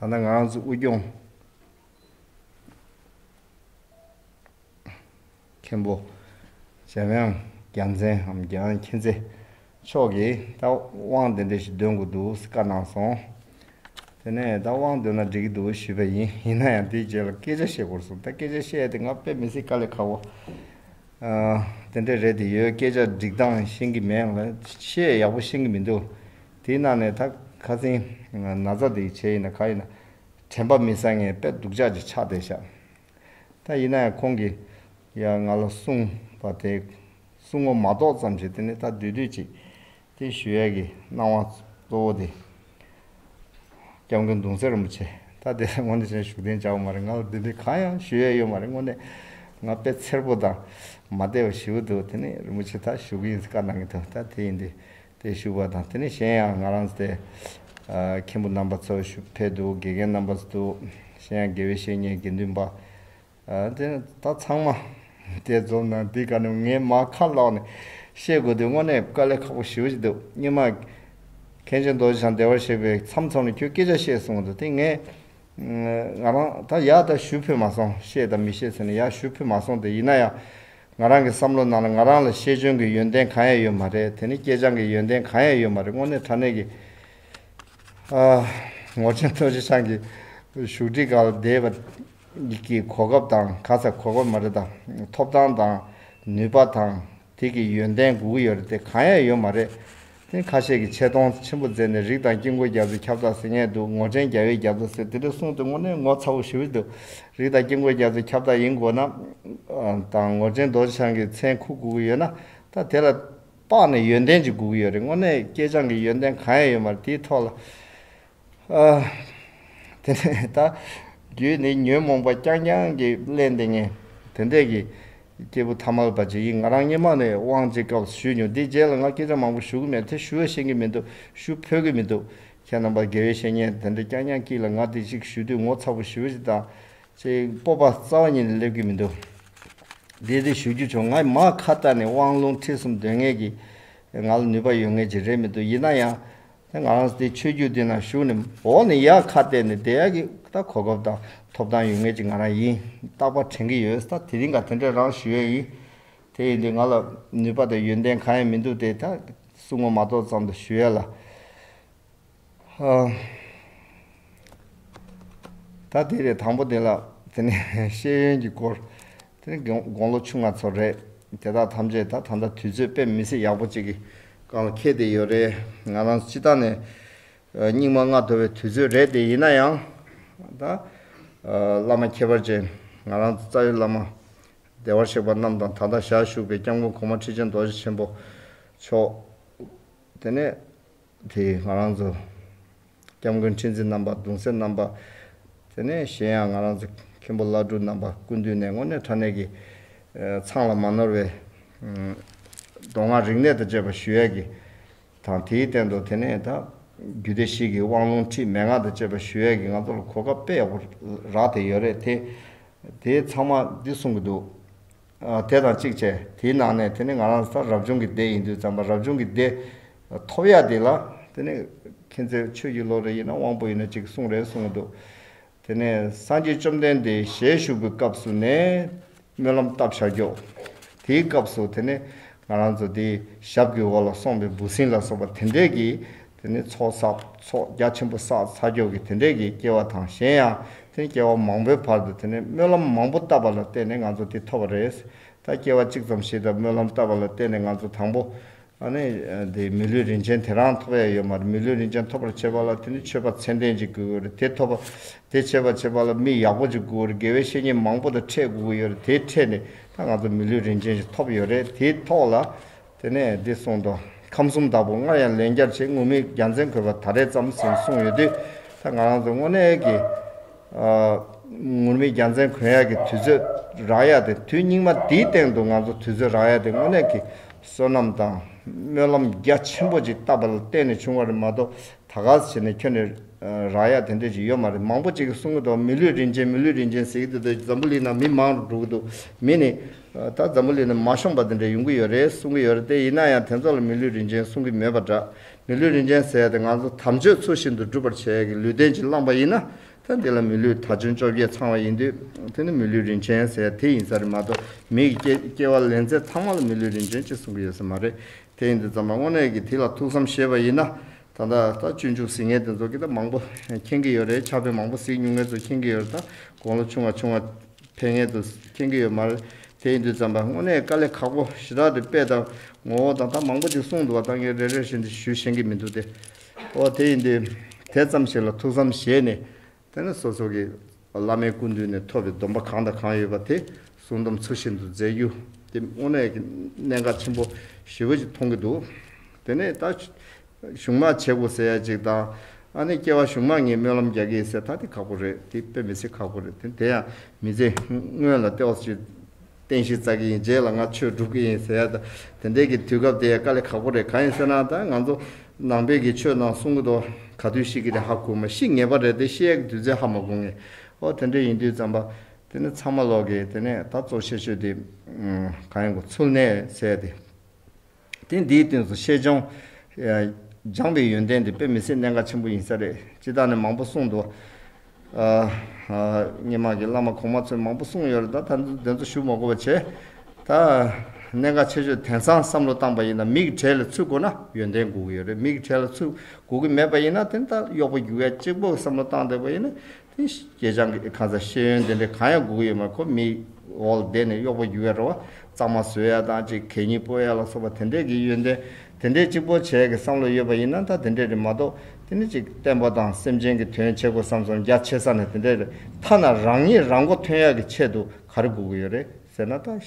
ད་ནི་ང་རང་ཚོའི་དབུས་སྐྱོང་མཁན་པོ་འཇམ་དབྱངས་རྒྱ་མཚན་འམ་རྒྱ་དབྱངས་མཁྱེན་བརྩེ་མཆོག་གིས་ད་དབང་དེ་འདྲ་ཞིག་འདོན་དགོས་འདུག་ཟེར་བཀའ་གནང་སོང། དེ་ནས་ད་དབང་འདོན་ན་འགྲིག་གི་འདུག་ཞུས་པ་ཡིན། ཡིན་ན་ཡང་དེའི་རྗེས་ལ་སྐད་ཆ་བཤད་དགོས་གསུངས། ད་སྐད་ཆ་བཤད་དེ་ང་དཔེ་མི་སྲིད་དཀའ་ལས་ཁག་པོ་དེ་འདྲས་རེད་དེ་ཡོད་སྐད་ཆ་འགྲིག་སྟངས་ཤེས་ཀྱི་མེད་ལ་བཤད་ཡག་པོ་ཤེས་ཀྱི་མི་འདུག་དེའི་ནང་ནས་ད་ག་ཚིང་ན་ཚ་དེ་ཡི་ཆེད་ཡིན་ན་ག་ཡིན་ན། དྲན་པ་མི་ཟ་ངེས་དཔེ་སྡུག་ཅག་ཅིག་ཆགས་བསྡད་ཤག། ད་ཡིན་ན་ཡང་ཁོང་གིས་ཡང་ང་ལ་གསུང་པ་དེ་གསུང་ངོ་མ་གཏོགས་ཙམ་ཞིག་དེ་ནི་ད་དུས་དུས་ཅིག་དེ་ཞུ་ཡས་ཀྱི་སྣང་བ་གཙོ་བོ་དེ། སྐྱབས་མགོན་གདུང་སྲས་རིན་པོ་ཆེ་ད་དེ་ལ་དངོས་གནས་ཅན་ཞུགས་ལྡན་བྱ་བ་མ་རེད་ང་ལ་དུས་དུས་གང་ཡང་ཞུ་ཡས་ཡོད་མ་རེད་དངོས་གནས་ང་དཔེ་འཚེར་པོ་དང་མ་བལྟས་པ་ཞིའུ་འདུག་དེ་ནི་རིན་པོ་ཆེ་ད་ཞུ་གི་ཡིན་ཟེར་བཀའ་གནང་གི་འདུག་ད་དེ་ཡིན་དུས་དེ་བཞུགས་པ་དང་དེ་ནས་གཞན་ཡང་ང་རང་ཚོ་མཁན་པོ་རྣམ་པ་ཚོ་བཞུགས་ཕེབས་འདུག་དགེ་རྒན་རྣམ་པ་ཚོ་འདུག་གཞན་ཡང་དགེ་བའི་བཤེས་གཉེན་དགེ་འདུན་པ། དེ་ད་ཚང་མ་དེ་རྫོབ་ན་འདི་ག་ནས་ངས་མ་ཁ་ལོག་ནས་བཤད་དགོས་དུས་དངོས་གནས་དཀའ་ལས་ཁག་པོ་ཞི་བ་ཞིག་འདུག་སྙིང་མ། མཁན་ཆེན་རྡོ་རྗེ་འཆང་བདེ་བར་གཤེགས་པས་མཚམས་ཚོགས་ནས་ཁྱོད་སྐད་ཆ་བཤད་གསུང་གི་འདུག་དེ་ངས་ང་རང་ད་ཡག་ད་བཞུགས་ཕེབས་མ་སོང་བཤད་ད་མི་བཤད་ཟེར་ནས་ཡག་བཞུགས་ཕེབས་མ་སོང་དེ་ཡིན་ན་ཡང་ང་རང་གི་བསམ་བློ་ནང་ལ་ང་རང་ལ་ཤེས་འཇོན་གྱི་ཡོན་ཏན་གང་ཡང་ཡོད་མ་རེད་དེ་ནི་སྐྱེས་སྦྱངས་ཀྱི་ཡོན་ཏན་གང་ཡང་ཡོད་མ་རེད་དངོས་གནས་དྲ་གནས་ཀྱི། ངོ་ཆེན་རྡོ་རྗེ་འཆང་གི་བཞུགས་ཁྲི་ག་ལ་འདས་པ་ཀྱི་གོ་སྐབས་དང་ག་ཚད་གོ་སྐབས་མ་རེད་ད། ཐོབ་ཐང་དང་ནུས་པ་དང་དེ་ཀྱི་ཡོན་ཏན་དགུ་ཡོད་རེད་དེ་གང་ཡང་ཡོད་མ་རེད། ཐེངས་ཁ་ཤས་ཀྱི་ཆེ་མཐོང་ཆེན་པོ་མཛད་ནས་རིགས་དང་དཀྱིལ་འཁོར་རྒྱ་མཚོའི་ཁྱབ་བདག་ཟེར་ངེས་འདུག་ངོ་ཕྲེང་བརྒྱ་བའི་རྒྱ་མཚོ་ཟེར་དེ་འདྲ་གསུངས་དུས་དངོས་གནས་ངོ་ཚ་བོ་ཞུ་ཡི་འདུག་རིགས་དང་དཀྱིལ་འཁོར་རྒྱ་མཚོའི་ཁྱབ་བདག་ཡིན་དགོས་ན། དང་ངོ་ཕྲེང་རྡོ་རྗེ་འཆང་གི་མཚན་ཁུག་དགོས་ཀྱི་ཡོད་ན། ད་དེ་ལ་དཔག་ནས་ཡོན་ཏན་ཅིག་དགོས་ཀྱི་ཡོད་རེད་དངོས་གནས་སྐྱེས་སྦྱངས་ཀྱི་ཡོན་ཏན་གང་ཡང་ཡོད་མ་རེད་དེའི་ཐོག་ལ། དེ་ནས་ད་རྒྱུད་ནི་ཉོན་མོངས་པ་རྐྱང་རྐྱང་གིས་བརླན་ཏེ་ངན། དེ་འདྲས་ཀྱི། སྐྱེས་བུ་ཐ་མལ་པ་ཅིག་ཡིན་ང་རང་སྙེ་མ་ནས་དབང་བྱེད་སྐབས་ཞུས་མྱོང་དེའི་རྗེས་ལ་ང་སྐད་ཆ་མང་པོ་ཞུ་གི་མེད་དེ་ཞུ་བས་ཤེས་ཀྱི་མི་འདུག་ཞུ་ཕོད་ཀྱི་མི་འདུག་ཁྱེད་རྣམ་པར་དགེ་བའི་བཤེས་གཉེན་དེ་འདྲས་རྐྱང་རྐྱང་ཀྱིས་ལ་ང་དེ་ཅིག་ཞུས་དུས་ངོ་ཚ་པོ་ཞི་བ་ཅིག་དང། ཅིག་སྤོབས་པ་རྩ་བ་ཉིད་ལས་སླེབས་ཀྱི་མི་འདུག་དེ་དེ་ཞུ་རྒྱུ་བྱུང་ང་མ་ཁ་བལྟ་ནས་དབང་ལུང་ཁྲིད་གསུམ་འདོན་ངེས་ཀྱི། ང་ལ་ནུས་པ་ཡོད་ངེས་ཅིག་རེད་མི་འདུག་ཡིན་ན་ཡང། དེ་ང་རང་དེ་ཆོས་བརྒྱུད་འདི་ན་ཞུགས་ནས་འོག་ནས་ཡར་ཁ་བལྟས་ནས་དེ་ཡག་གི་ད་གོ་སྐབས་དང་ཐོབ་ཐང་ཡོད་ངེས་ཀྱི་ང་རང་ཡིན་རྟག་པར་དྲན་གྱི་ཡོད་ད་དེ་རིང་ག་དེ་འདྲས་རང་ཞུས་ཡས་ཡིན། དེ་ཡིན་དུས་ང་ལ་ནུས་པ་དང་ཡོན་ཏན་གང་ཡང་མི་འདུག་དེ་ད་གསུང་ངོ་མ་ཏོག་ཙམ་དུ་ཞུས་ཡས་ལ། ད་དེ་རེད་དང་པོ་དེ་ལ་དེ་ནས་ཤེས་ཡོན་གྱི་སྐོར། དེ་ནས་དགུང་ལོ་ཆུང་ང་ཚོ་རེད། དེ་དག་ཐམས་ཅད་ད་ད་ལྟ་དུས་ཚོད་དཔེ་མི་སྲིད་ཡག་པོ་གཅིག་གི་སྒང་ལ་ཁེལ་ཏེ་ཡོད་རེད། ང་རང་སྤྱི་དང་ནས་སྙིགས་མ་ལྔ་དོར་བའི་དུས་ཚོད་རེད་དེ་ཡིན་ན་ཡང། ད། བླ་མ་ཁྱད་པར་ཅན་ང་རང་རྩ་བའི་བླ་མ། བདེ་བར་གཤེགས་པ་རྣམས་དང་ད་ལྟ་ཞག་བཞུགས་པའི་སྐྱབས་མགོན་གོང་མ་ཁྲི་ཆེན་རྡོ་རྗེ་ཆེན་པོ་མཆོག། དེ་ནས། དེ་ཡིས་ང་རང་ཚོ། སྐྱབས་མགོན་ཁྲི་འཛིན་རྣམ་པ་གདུང་སེམས་རྣམ་པ། དེ་ནས་གཞན་ཡང་ང་རང་ཚོ་མཁན་པོ་བླ་སྤྲུལ་རྣམ་པ་སྐུ་མདུན་ནས་དངོས་གནས་ཕྲ་གནས་ཀྱི། མཚང་ལ་མ་ནོར་བའི། མདོ་སྔགས་རིག་གནས་དང་བཅས་པ་ཞུ་ཡས་ཀྱི། དང་དེའི་སྟེང་དུ་དེ་ནས་ད། རྒྱུད་སྡེ་ཞིག་གི་དབང་ལུང་ཁྲིད་མན་ངག་དང་བཅས་པ་ཞུ་ཡས་ཀྱི་ང་ཚོ་ལ་གོ་སྐབས་སྤེལ་ཡག་པོ་རག་དེ་ཡོད་རེད་དེ། དེའི་ཚང་མ་འདི་གསུང་གི་འདུག། དེ་དང་གཅིག་བྱས་དེའི་ནང་ནས་དེ་ནི་ང་རང་ཚོ་ད་རབ་བྱུང་གི་སྡེ་ཡིན་དུས་ཙམ་པ་རབ་བྱུང་གི་སྡེ་ཐོབ་ཡ་དེ་ལ་དེ་ནི་ཁྱེད་ཚོས་ཆོས་བརྒྱུད་ལོ་རེ་ཡིན་ན་དབང་པོ་ཡིན་ན་གཅིག་གསུང་རེ་གསུང་གི་འདུག་དེ་ནས་སངས་རྒྱས་བཅོམ་ལྡན་འདས་ཞལ་བཞུགས་པའི་སྐབས་སུ་ནས་སྨོན་ལམ་བཏབ་བྱ་རྒྱོགས་དེའི་སྐབས་སུ་དེ་ནི་ང་རང་ཚོ་དེའི་ཞབས་ཀྱི་འོག་ལ་སོང་པའི་འབུ་སྲིན་ལ་སོགས་པ་དེ་འདྲས་ཀྱིས་དེ་ནི་ཚོགས་བསགས་ཚོགས་རྒྱ་ཆེན་པོ་བསགས་ཚ་འཁྱོག་གི་དེ་འདྲས་ཀྱིས་སྐྱེ་བ་དང་གཞན་ཡང་དེ་ནི་སྐྱེ་བ་མང་པོའི་བར་དུ་དེ་ནི་སྨོན་ལམ་མང་པོ་བཏབ་པ་ལ་བརྟེན་ནས་ང་ཚོ་འདི་ཐོབ་པ་རེད། ད་སྐྱེ་བ་གཅིག་ཙམ་ཞིག་དང་སྨོན་ལམ་བཏབ་པ་ལ་བརྟེན་ནས་ང་ཚོ་དང་པོ། ནི་འདི་མི་ལུས་རིན་ཆེན་དེ་རང་ཐོབ་ཡ་ཡོད་མ་རེད་མི་ལུས་རིན་ཆེན་ཐོབ་པར་བྱེད་པ་ལ་དེ་ནི་མཆོད་པ་མཚན་ལྡན་ཅིག་དགོས་ཀྱི་རེད་དེ་ཐོབ་པ་དེ་བྱེད་པར་བྱེད་པ་ལ་མི་ཡག་པོ་ཅིག་དགོས་རེད་དགེ་བའི་བཤེས་གཉེན་མང་པོ་དང་འཕྲད་དགོས་ཀྱི་ཡོད་རེད་དེ་འཕྲད་ནས་ད་ང་ཚོ་མི་ལུས་རིན་ཆེན་ཞིག་ཐོབ་ཡོད་རེད་དེའི་ཐོག་ལ་དེ་ནས་འདི་གསུངས་ཏོ། ཁམས་གསུམ་བདག་པོ་སྔར་ཡང་ལན་བརྒྱར་བྱས་ངུར་སྨྲིག་རྒྱ་མཚན་གོས་པ་ད་རེས་བརྩམས་ཟིན་གསུངས་ཡོད་དུས་ད་ང་རང་ཚོ་དངོས་གནས་ཀྱི། ངུར་སྨྲིག་རྒྱ་མཚན་གོན་ཡག་གི་དུས་ཚོད་རག་ཡག་དེ་དུས་སྙིགས་མ་འདིའི་སྟེང་དུ་ང་ཚོ་དུས་ཚོད་རག་ཡག་དེ་དངོས་གནས་ཀྱི་བསོད་ནམས་དང་སྨོན་ལམ་རྒྱ་ཆེན་པོ་ཅིག་བཏབ་པ་ལ་བརྟེན་ནས་བྱུང་བ་རེད་མ་གཏོགས་ད་ག་ཟེ་བྱས་ནས་ཁྱོན་ནས་རག་ཡག་དེ་འདྲས་ཅིག་ཡོད་མ་རེད་མང་པོ་ཅིག་གིས་གསུངས་གི་འདུག་མི་ལུས་རིན་ཆེན་མི་ལུས་རིན་ཆེན་ཟེར་གི་འདུག་འདོད་ཀྱི་འཛམ་བུ་གླིང་ན་མི་མང་པོ་འགྲོ་གི་འདུག་མི་ནི། ད་འཛམ་བུ་གླིང་ནས་མ་ཤོང་པ་དེ་འདྲ་ཡོང་གི་ཡོད་རེད་གསུང་གི་ཡོད་རེད་དེ་ཡིན་ན་ཡང་དེ་ཚོ་ལ་མི་ལུས་རིན་ཆེན་གསུང་གི་མེད་པ་འདྲ། མི་ལུས་རིན་ཆེན་ཟེར་ཡ་དེ་ང་ཚོ་དམ་ཆོས་ཚུལ་བཞིན་དུ་སྒྲུབ་པར་བྱས་ཡ་གི་ལུས་རྟེན་གྱིས་བླངས་པ་ཡིན་ན་ད་འདི་ལ་མི་ལུས་ད་བྱོན་བཅོ་བརྒྱད་ཚང་བ་ཡིན་དུས་དེ་ནི་མི་ལུས་རིན་ཆེན་ཟེར་ཡ་དེ་ཡིན་ས་རེད་མ་གཏོགས་མི་ཡི་སྐྱེ་སྐྱེ་བ་ལེན་ཚད་ཚང་མ་ལ་མི་ལུས་རིན་ཆེན་ཅེས་གསུང་གི་ཡོད་ས་མ་རེད་དེ་ཡིན་དུས་ཛམ་བྷ་དངོས་གནས་ཀྱིས་དེ་ལ་ཐུགས་བསམ་བཞེས་པ་ཡིན་ན་ད་ལྟ་ད་སྤྱོད་འཇུག་ཟིང་ངེ་དེ་ཚོ་ཀི་ད་མང་པོ་མཁྱེན་གི་ཡོད་རེད་ཕྱག་དཔེ་མང་པོ་གཟིགས་ཉུང་ངེ་ཚོ་མཁྱེན་གི་ཡོད་རེད་ད་དགོང་ལོ་ཆུང་བ་ཆུང་བ། ཕན་ངེས་དུ་མཁྱེན་གྱི་ཡོད་མ་རེད། དེ་ཡིན་དུས་བརྩམས་པ་དངོས་གནས་དཀའ་ལས་ཁག་པོ་ཞེ་དྲག་དེ་དཔེ་དང་ངོ་བོ་དང་ད་མང་པོ་ཅིག་གསུངས་འདུག་བ་ད་ངས་རེ་རེར་བཞིན་དུ་ཞུས་ཤེས་ཀྱི་མི་འདུག་སྟེ། ཨོ་དེ་ཡིན་དུས་དེ་ཙམ་ཞིག་ལ་ཐུགས་བསམ་བཞེས་ནས་དེ་ནས་སོ་སོ་གྱིས་བླ་མའི་སྐུ་མདུན་ནས་ཐོབ་པའི་སྡོམ་པ་གང་དང་གང་ཡོད་པ་དེ་གསུང་དམ་ཚུལ་བཞིན་དུ་མཛད་རྒྱུ་དེ་དངོས་གནས་ཀྱི་གནད་འགག་ཆེན་པོ་ཞེ་བོ་ཞིག་མཐོང་གི་འདུག་དེ་ནས་ད་གཞུང་མང་བྱེད་དགོས་ཟེར་ཡ་གཅིག་དང། ཨ་ནི་སྐྱེ་བ་གཞུང་མང་ངས་སྨོན་ལམ་རྒྱག་གི་ཡིན་ཟེར་ད་དེ་ཁག་པོ་རེད་དེ་དཔེ་མི་སྲིད་ཁག་པོ་རེད་དེ་དེ་ཡང་མི་རྩི། སྔོན་ལ་ལྟེ་བ་སུ་ཞིག་རྟེན་གཞི་རྩ་གི་ཡིན་རྗེས་ལ་ང་ཆོས་སྒྲུབ་ཀྱི་ཡིན་ཟེར་ཡ་དེ་འད་ཀྱི་དུས་སྐབས་དེ་ཡང་དཀའ་ལས་ཁག་པོ་རེད་གང་ཡིན་ཟེར་ན་ད་ང་ཚོ་ནང་པའི་གི་ཆོས་ནང་གསུང་གི་དོ་ག་དུས་ཤིག་གི་རེད་ཧ་གོ་མི་ཤིས་ངེས་པ་རེད་དེ་ཤེས་ཡ་གི་དུས་ཚོད་ཧ་མ་གོ་ངེས་ཨོ་དེ་འད་ཡིན་དུས་བརྩམས་པ་དེ་ནི་ཚང་མ་ལོག་གི་དེ་ནས་ད་གཙོ་ཆེ་ཤོས་དེ་གང་ཡིན་གོ་ཚུལ་ནས་ཟེར་ཡ་དེ། དེང་འདིའི་དུས་སུ་ཤེས་བྱུང། སྦྱངས་པའི་ཡོན་ཏན་འདི་དཔེ་མི་སྲིད་གནད་འགག་ཆེན་པོ་ཡིན་ས་རེད། སྤྱི་དང་ནི་མང་པོ་གསུངས་འདུག། སྙན་མང་གི་བླ་མ་གོང་མ་ཚོས་མང་པོ་གསུངས་ཡོད་རེད་ད། ད་དེ་ཚོ་ཞུ་མ་གོ་བ་བྱས། ད། གནད་འགག་ཆེ་ཤོས་དེང་སང་བསམ་བློ་བཏང་པ་ཡིན་ན་མི་གི་གྲས་ལ་ཚུད་དགོས་ན་ཡོན་ཏན་དགོས་ཀྱི་ཡོད་རེད་མི་གི་གྲས་ལ་ཚུད་དགོས་ཀྱི་མེད་པ་ཡིན་ན་དེ་ད་གཡོག་པོ་རྒྱུགས་ཡ་གཅིག་པོ་བསམ་བློ་བཏང་བསྡད་པ་ཡིན་ན་ཁྱེད་རང་གི་གང་ཟག་ཤེས་ཡོན་དེ་འདྲའི་གང་ཡང་སྒུག་ཡོད་མ་ཁོ་མི་འོག་བསྡད་ནས་གཡོག་པོ་འགྱུར་བའི་རེ་བ་གཙང་མ་བཟོས་ཡ་དང་གཅིག་གད་སྙིགས་སྤོ་ཡ་ལ་སོགས་པ་དེ་འདྲས་ཀྱི་ཡོན་ཏན་དེ་འདྲས་གཅིག་པོ་བྱས་ཀྱི་བསམ་བློ་ཡོད་པ་ཡིན་ན་ད་དེ་འདྲས་རེད་མ་གཏོགས་དེ་ནི་གཅིག་བསྟན་པ་དང་སེམས་ཅན་གྱི་དོན་བྱེད་དགོས་བསམ་སོང་རྒྱ་ཆེ་ས་ནས་དེ་འདྲས་རེད་ཐ་ན་རང་ཉིད་རང་མགོ་ཐོན་ཡག་གི་ཆེད་དུ་ག་རེ་སྒུག་གི་ཡོད་རེད་ཟེར་ན་ད།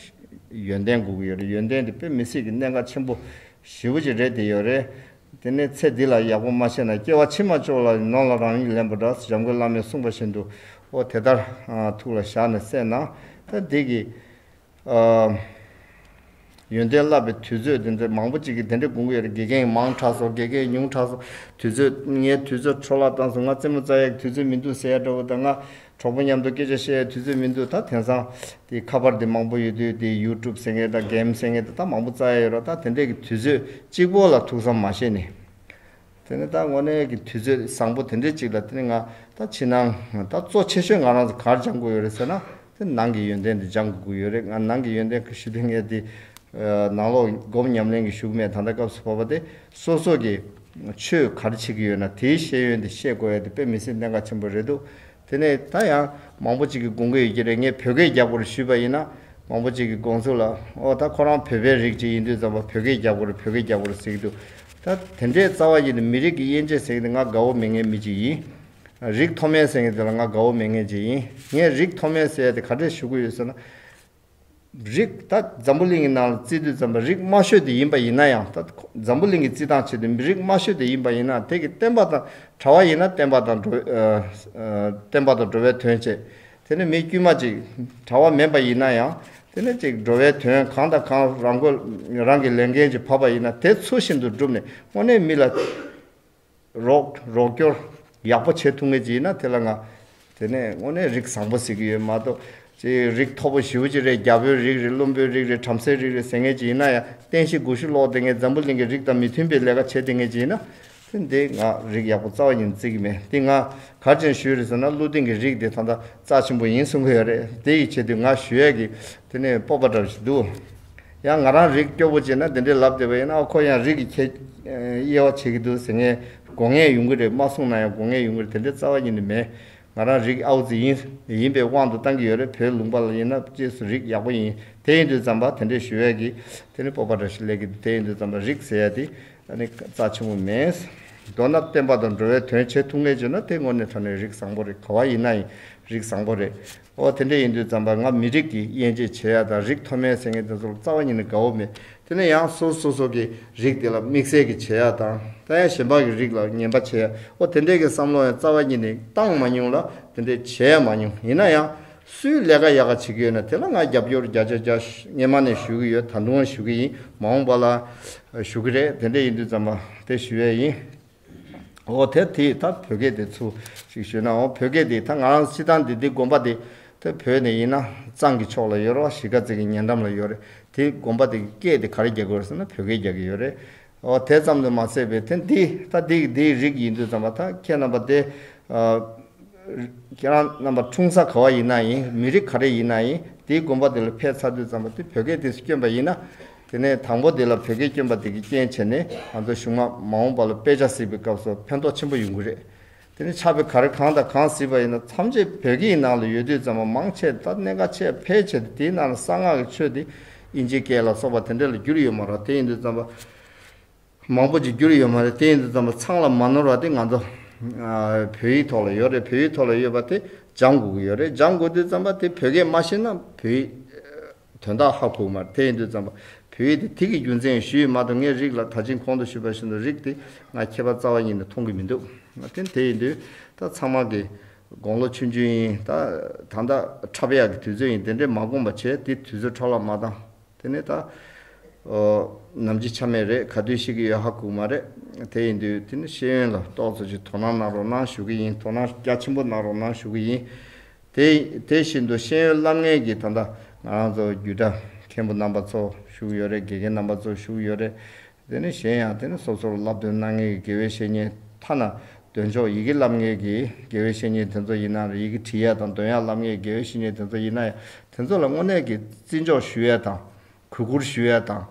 ཡོན་ཏན་སྒུག་གི་ཡོད་རེད་ཡོན་ཏན་དེ་དཔེ་མི་སྲིད་ཀྱི་གནད་འགག་ཆེན་པོ་བཞི་བོ་གཅིག་རེད་དེ་ཡོད་རེད་དེ་ནས་ཚེ་འདི་ལ་ཡག་པོ་མ་བྱས་ན་སྐྱེ་བ་ཕྱི་མ་ཅོག་ལ་ནོར་ལ་རང་ཡིད་ལན་པ་འདྲ་འཇམ་མགོན་བླ་མས་གསུངས་པ་བཞིན་དུ་ཨོ་དེ་ལྟར་ཐུགས་ལ་བཞག་ནས་སེམས་ནང་ད་འདི་གི་ཡོན་ཏན་བསླབ་པའི་དུས་ཚོད་འདི་འདྲ་མང་པོ་ཅིག་གི་དེ་འདྲ་དགོངས་ཀྱི་ཡོད་རེད་དགེ་རྒན་ཡིན་མང་དྲགས་སོ་དགེ་རྒན་ཡིན་ཉུང་དྲགས་སོ་དུས་ཚོད་ངའི་དུས་ཚོད་འཕྲོ་བརླག་བཏང་སོང་ང་རྩེད་མོ་རྩྭ་ཡག་གི་དུས་ཚོད་མི་འདུག་ཟེར་ཡ་འདྲ་བོ་དང་ང་གྲོགས་པོ་མཉམ་དུ་སྐད་ཆ་བཤད་ཡའི་དུས་ཚོད་མི་འདུག་ད་དེང་སང། དེ་ཁ་པར་དེ་མང་པོ་ཡོད་དུས་དེ YouTube ཟེར་མཁན་དང Game ཟེར་མཁན་དེ་ད་མང་པོ་རྩ་ཡ་ཡོད་རོགས་ད་དེ་འདྲས་ཀྱི་དུས་ཚོད་གཅིག་པོ་ལ་ཐུགས་བསམ་མ་བཞེས་ནས། དེ་ནས་ད་དངོས་གནས་ཀྱི་དུས་ཚོད་བཟང་པོ་དེ་འདྲས་གཅིག་ལ་དེ་ནས་ང་ད་ཕྱི་ནང་ད་གཙོ་ཆེ་ཤོས་ང་རང་ཚོ་གར་སྦྱང་དགོས་ཡོད་རེད་ཟེར་ན་དེ་ནང་གི་ཡོན་ཏན་དེ་སྦྱང་དགོས་ཀྱི་ཡོད་རེད་ང་ནང་གི་ཡོན་ཏན་ཁ་ཤི་དོན་ངས་དེ། ནང་ལོག་སྒོམ་ཉམས་ལེན་གྱི་ཞུགས་མེད་ད་ལྟ་སྐབས་སུ་བབ་པ་དེ་སོ་སོ་གྱི། ཆོས་ག་རེ་བྱེད་ཀྱི་ཡོད་ན་དེའི་ཤེས་ཡོན་དེ་བཤད་དགོས་ཡ་དེ་དཔེ་མི་སྲིད་གནད་འགག་ཆེན་པོ་རེད་འདུག་དེ་ནས་ད་ཡང་མང་པོ་ཅིག་གི་དགོངས་ཀྱི་ཡོད་ཀྱི་རེད་ངས་བོད་སྐད་རྒྱག་པོ་རུ་ཞུས་པ་ཡིན་ན་མང་པོ་ཅིག་གི་དགོངས་ཚུལ་ལ་ཨོ་ད་ཁོ་རང་བོད་པའི་རིགས་ཅིག་ཡིན་དུས་ཙམ་པ་བོད་སྐད་རྒྱག་པོ་རུ་བོད་སྐད་རྒྱག་པོ་རུ་ཟེར་གྱི་འདུག་ད་དེ་འདྲའི་རྩ་བ་ཡིན་དུས་མི་རིགས་ཀྱི་དབྱེ་འབྱེད་ཟེར་གྱི་འདི་ང་དགའ་བོ་མེད་ངན་མི་ཅིག་ཡིན། རིགས་མཐོ་དམན་ཟེར་གྱི་འདི་ལ་ང་དགའ་བོ་མེད་ངན་ཅིག་ཡིན་ངས་རིགས་མཐོ་དམན་ཟེར་ཡ་དེ་ག་འདྲས་ཞུ་གི་ཡོད་ཟེར་ན། རིགས། ད་འཛམ་བུ་གླིང་གི་ནང་ལ་རྩིས་དུས་འཛམ་པ་རིགས་དམའ་ཤོས་དེ་ཡིན་པ་ཡིན་ན་ཡང་ད་འཛམ་བུ་གླིང་གི་རྩིས་ཐང་ཆེད་དུ་མི་རིགས་དམའ་ཤོས་དེ་ཡིན་པ་ཡིན་ན་དེ་གི་བསྟན་པ་དང་གྲྭ་བ་ཡིན་ན་བསྟན་པ་དང་བསྟན་པ་དང་འགྲོ་བའི་དོན་བྱེད་དེ་ནི་མི་དཀྱུས་མ་ཅིག་གྲྭ་བ་མིན་པ་ཡིན་ན་ཡང་དེ་ནི་ཅིག་འགྲོ་བའི་དོན་གང་དང་གང་རང་གོ་རང་གི་ལས་འགན་གྱི་བབ་པ་ཡིན་ན་དེ་ཚུལ་བཞིན་དུ་བསྒྲུབས་ནས་དངོས་གནས་མི་ལ་རོགས་སྐྱོར་ཡག་པོ་བྱེད་ཐུབ་ངེས་ཅི་ཡིན་ན་དེ་ལ་ང། དེ་ནས་དངོས་གནས་རིགས་བཟང་པོ་ཟེར་གྱི་ཡོད་མ་གཏོགས། རིགས་མཐོ་པོ་ཞིའུ་ཅི་རེད་རྒྱ་བོད་རིགས་རེད་བླུན་པོའི་རིགས་རེད་བྲམ་ཟེའི་རིགས་རེད་ཟེར་ངེས་ཅི་ཡིན་ན་ཡང་བསྟན་བཤིག་དགུ་ཤུ་ལོག་དེ་ངས་འཛམ་བུ་གླིང་གི་རིགས་དང་མི་མཐུན་པའི་ལས་ཀ་བྱས་དེ་ངེས་ཅི་ཡིན་ན། དེ་ང་རིགས་ཡག་པོ་རྩ་བ་ཡིན་བརྩི་གི་མེད་དེ་ང་གར་ཅན་ཞུས་རེད་ཟེར་ན་ཀླུ་སྡིངས་ཀྱི་རིགས་དེ་ད་ལྟ་རྩ་ཆེན་པོ་ཡིན་གསུང་གི་ཡོད་རེད་དེ་ཡིས་བྱས་དུས་ང་ཞུ་ཡས་ཀྱི་དེ་ནས་སྤོབས་པ་འདྲ་བོ་ཞིག་འདུག། ཡང་ང་རང་རིགས་སྐྱོ་པོ་བྱེད་ན་དེ་འདྲའི་ལབ་བདེ་བ་ཡིན་ན་ཨ་ཁོ་ཡང་རིགས་ཀྱི་ཁྱད་དབྱེ་བ་བྱེད་ཀྱི་འདུག་ཟེར་ངའི་དགོངས་ངས་ཡོང་གི་རེད་མ་གསུངས་ན་ཡང་དགོངས་ངས་ཡོང་གི་རེད་དེ་འདྲའི་རྩ་བ་ཉིད་ནས་མེད། ང་རང་རིགས་ཨའུ་ཙི་ཡིན། ཡིན་པའི་དབང་དུ་བཏང་གི་ཡོད་རེད་བོད་ལུང་པ་ལ་ཡིན་ན་གཅེས་སུ་རིགས་ཡག་པོ་ཡིན་དེ་ཡིན་དུས་ཙམ་པ་དེ་འདྲས་ཞུ་ཡས་ཀྱི་དེ་ནི་སྤོབས་པ་འདྲ་ཞིག་ལས་ཀྱི་འདུག་དེ་ཡིན་དུས་ཙམ་པ་རིགས་ཟེར་ཡས་དེ་ནི་རྩ་ཆེན་པོ་མེད། མདོར་ན་བསྟན་པ་དང་འགྲོ་བའི་དོན་བྱེད་ཐུབ་ངེས་བྱུང་ན་དེ་དངོས་གནས་དྲ་ནས་རིགས་བཟང་པོ་རེད་ག་བ་ཡིན་ན་ཡིན་རིགས་བཟང་པོ་རེད། ཨོ་དེ་འདྲ་ཡིན་དུས་རྩམ་པ་ང་མི་རིགས་ཀྱི་དབྱེ་འབྱེད་བྱེད་ཡ་དང་རིགས་མཐོ་དམན་ཟེར་མཁན་དེ་ཚོ་ལ་རྩ་བ་ཉིད་ནས་དགའ་བོ་མེད་དེ་ནས་ཡང་སོ་སོ་སོ་གི་རིགས་དེ་ལ་དམིགས་བསལ་གྱི་བྱེད་ཡ་དང་རྩ་ཡ་གཞན་དཔག་གི་རིགས་ལ་ངན་པ་བྱེད་ཡ་ཨོ་དེ་འདྲས་ཀྱི་བསམ་བློ་ཡང་རྩ་བ་ཉིད་ནས་བཏང་མ་མྱོང་ལ་དེ་འདྲས་བྱེད་ཡ་མ་མྱོང་ཡིན་ན་ཡང་སུའི་ལས་ཀ་ཡག་ག་བྱེད་གི་ཡོད་ན་དེ་ལ་ང་རྒྱབ་སྐྱོར་བརྒྱ་ཆ་བརྒྱ་སྙེ་མ་ནས་ཞུ་གི་ཡོད་ད་དུང་ཞུ་གི་ཡིན་མ་འོངས་པ་ལ་ཞུ་གི་རེད་དེ་འདྲས་ཡིན་དུས་རྩམ་པ་དེ་ཞུ་ཡ་ཡིན། འོ་དེ་དེ་ད་བོད་སྐད་དེ་ཚུ་ཞིག་ཞུས་ན་འོ་བོད་སྐད་དེ་ད་ང་རང་སྤྱི་ཐང་དེ་དེ་དགོན་པ་དེ་དེ་བོད་ནས་ཡིན་ན་གཙང་གི་ཕྱོགས་ལ་ཡོད་རོགས་གཞིས་ཀ་རྩེ་གི་ཉེ་འགྲམ་ལ་ཡོད་རེད་དེ་དགོན་པ་དེ་གི་སྐད་དེ་ག་རེ་རྒྱག་དགོས་རེད་ཟེར་ན་བོད་སྐད་རྒྱག་གི་ཡོད་རེད་འོ་དེ་ཙམ་དུ་མ་ཟད་པའི་དེ་འདི་ད་འདི་གི་འདི་རིགས་ཡིན་དུས་ཙམ་པ་ད་ཁྱེད་རྣམ་པ་དེ་ཁྱེད་རང་རྣམ་པ་འཁྲུངས་ས་ག་བ་ཡིན་ན་ཡིན་མི་རིགས་ག་རེ་ཡིན་ན་ཡིན་དེ་དགོན་པ་དེ་ལ་ཕེབས་ཚར་དུས་ཙམ་པ་དེ་བོད་སྐད་དེ་སུ་སྐྱོན་པ་ཡིན་ན་དེ་ནས་དང་པོ་དེ་ལ་བོད་སྐད་སྐྱོན་པ་དེ་གི་རྐྱེན་བྱས་ནས་ང་ཚོ་གཞུང་མ་མ་འོངས་པ་ལ་དཔེ་ཆ་གཟིགས་པའི་སྐབས་སུ་ཕན་ཐོག་ཆེན་པོ་ཡོང་གི་རེད་དེ་ནི་ཆགས་པའི་ག་རེ་གང་དང་གང་གཟིགས་པ་ཡིན་ན་མཚམས་ཆད་བོད་སྐད་ཡི་ནང་ལ་ཡོད་དུས་ཙམ་མ་མང་ཆད་ད་གནད་འགག་ཆད་ཕལ་ཆེ་དེ་དེའི་ནང་ལ་གསང་སྔགས་ཀྱི་ཆོས་དེ་དབྱིན་ཇིའི་སྐད་ལ་སོགས་པ་དེ་འདྲ་ལ་བསྒྱུར་ཡོད་མ་རག་དེ་ཡིན་དུས་ཙམ་པ་མང་པོ་ཅིག་བསྒྱུར་ཡོད་མ་རེད་དེ་ཡིན་དུས་ཙམ་པ་ཚང་ལ་མ་ནོར་བ་དེ་ང་ཚོ་བོད་ཡིག་ཐོག་ལ་ཡོད་རེད་བོད་ཡིག་ཐོག་ལ་ཡོད་པ་དེ་སྦྱང་དགོས་ཀྱི་ཡོད་རེད་སྦྱང་དགོས་དུས་ཙམ་པ་དེ་བོད་སྐད་མ་ཤེས་ན་བོད་ཡིག། དོན་དག་ཧ་གོ་མར་ཐལ་ཡིན་དུས་བརྩམས་པ་བོད་ཡིག་དེ་ཐིག་གི་རྒྱུ་མཚན་ཞུ་ཡི་མ་འདུག་ངས་རིགས་ལ་ད་ཕྱིན་ཁོང་དུ་ཞུས་པ་བཞིན་དུ་རིགས་དེ་ང་ཁྱེད་པ་རྩ་བ་ཉིད་ནས་མཐོང་གི་མི་འདུག་ང་ཐེངས་དེ་ཡིན་དུས་ད་ཚང་མ་གི་དགོང་ལོ་ཆུང་ཆུང་ཡིན་ད་ད་ད་ཁྲ་བ་ཡག་གི་དུས་ཚོད་ཡིན་དེ་འདྲའི་མ་དགོངས་པ་བྱས་དེ་དུས་ཚོད་ཁྲ་ལག་མ་བཏང་དེ་ནས་ད་ནམ་གྱི་ཆ་མེད་རེད་ག་དུས་ཤི་གི་ཡོད་ཧ་གོ་མ་རེད་དེ་ཡིན་དུས་དེ་ནས་ཤེས་ཡོན་ལ་རྟོག་བཟོ་ཅིག་དོ་སྣང་གནང་རོགས་གནང་ཞུ་གི་ཡིན་དོ་སྣང་རྒྱ་ཆེན་པོ་གནང་རོགས་གནང་ཞུ་གི་ཡིན། དེ་དེ་བཞིན་དུ་ཤེས་ཡོན་བསླབ་ངེས་ཀྱི་ད་ལྟ་ང་རང་ཚོ་རྒྱུད་གྲྭ་མཁན་པོ་རྣམ་པ་ཚོ་བཞུགས་ཡོད་རེད་དགེ་རྒན་རྣམ་པ་ཚོ་བཞུགས་ཡོད་རེད་དེ་ནི་གཞན་ཡང་དེ་ནི་སོ་སོར་བསླབ་སྟོན་གནང་ངེས་ཀྱི་དགེ་བའི་བཤེས་གཉེན་ཐ་ན་འདོན་ཆོག་ཡི་གེ་བསླབ་ངེས་ཀྱི་དགེ་བའི་བཤེས་གཉེན་དེ་ཚོ་ཡིན་ན་རེད་ཡི་གེ་བྲིས་ཡས་དང་འདོན་ཡས་བསླབ་ངེས་ཀྱི་དགེ་བའི་བཤེས་གཉེན་དེ་ཚོ་ཡིན་ན་ཡང་དེ་ཚོ་ལ་དངོས་གནས་ཀྱི་བརྩི་འཇོག་ཞུ་ཡས་དང་གུས་བཀུར་ཞུ་ཡ་དང།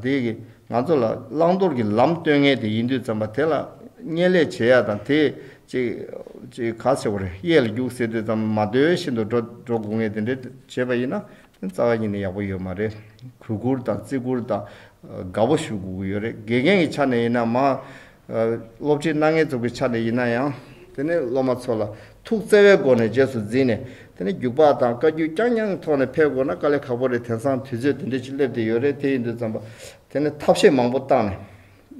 དེ་གིས་ང་ཚོ་ལ་བླང་དོར་གྱི་ལམ་སྟོན་མཁན་དེ་ཡིན་དུས་ཙམ་པ་དེ་ལ་བརྙན་ལས་བྱེད་ཡ་དང་དེས་ཅིག། ཅིག་ག་ཟེར་བ་རེད་གཡས་ལ་རྒྱུགས་ཟེར་དུས་ཙམ་མ་ཟློས་བཞིན་དུ་འགྲོ་འགྲོ་དགོས་ངེས་དེ་འདྲའི་བྱེད་པ་ཡིན་ན་རྩ་བ་ཉིད་ནས་ཡག་པོ་ཡོད་མ་རེད། གུས་བཀུར་དང་བརྩི་བཀུར་དང་དགའ་པོ་ཞུ་དགོས་ཀྱི་ཡོད་རེད་དགེ་རྒན་གྱི་ཆ་ནས་ཡིན་ན་མ། སློབ་ཁྲིད་གནང་ངེས་ཙམ་གྱི་ཆ་ནས་ཡིན་ན་ཡང། དེ་ནི་སློབ་མ་ཚོ་ལ་ཐུགས་བརྩེ་བའི་སྒོ་ནས་རྗེས་སུ་འཛིན་ནས་དེ་ནི་རྒྱུགས་པགས་དང་བཀའ་རྒྱུད་རྐྱང་རྐྱང་ཐོག་ནས་འཕེལ་དགོས་ན་དཀའ་ལས་ཁག་པོ་རེད་དེང་སང་དུས་ཚོད་དེ་འདྲའི་ཆེད་སླེབས་དེ་ཡོད་རེད་དེ་ཡིན་དུས་བརྩམས་པ་དེ་ནི་ཐབས་ཤེས་མང་པོ་བཏང་ནས་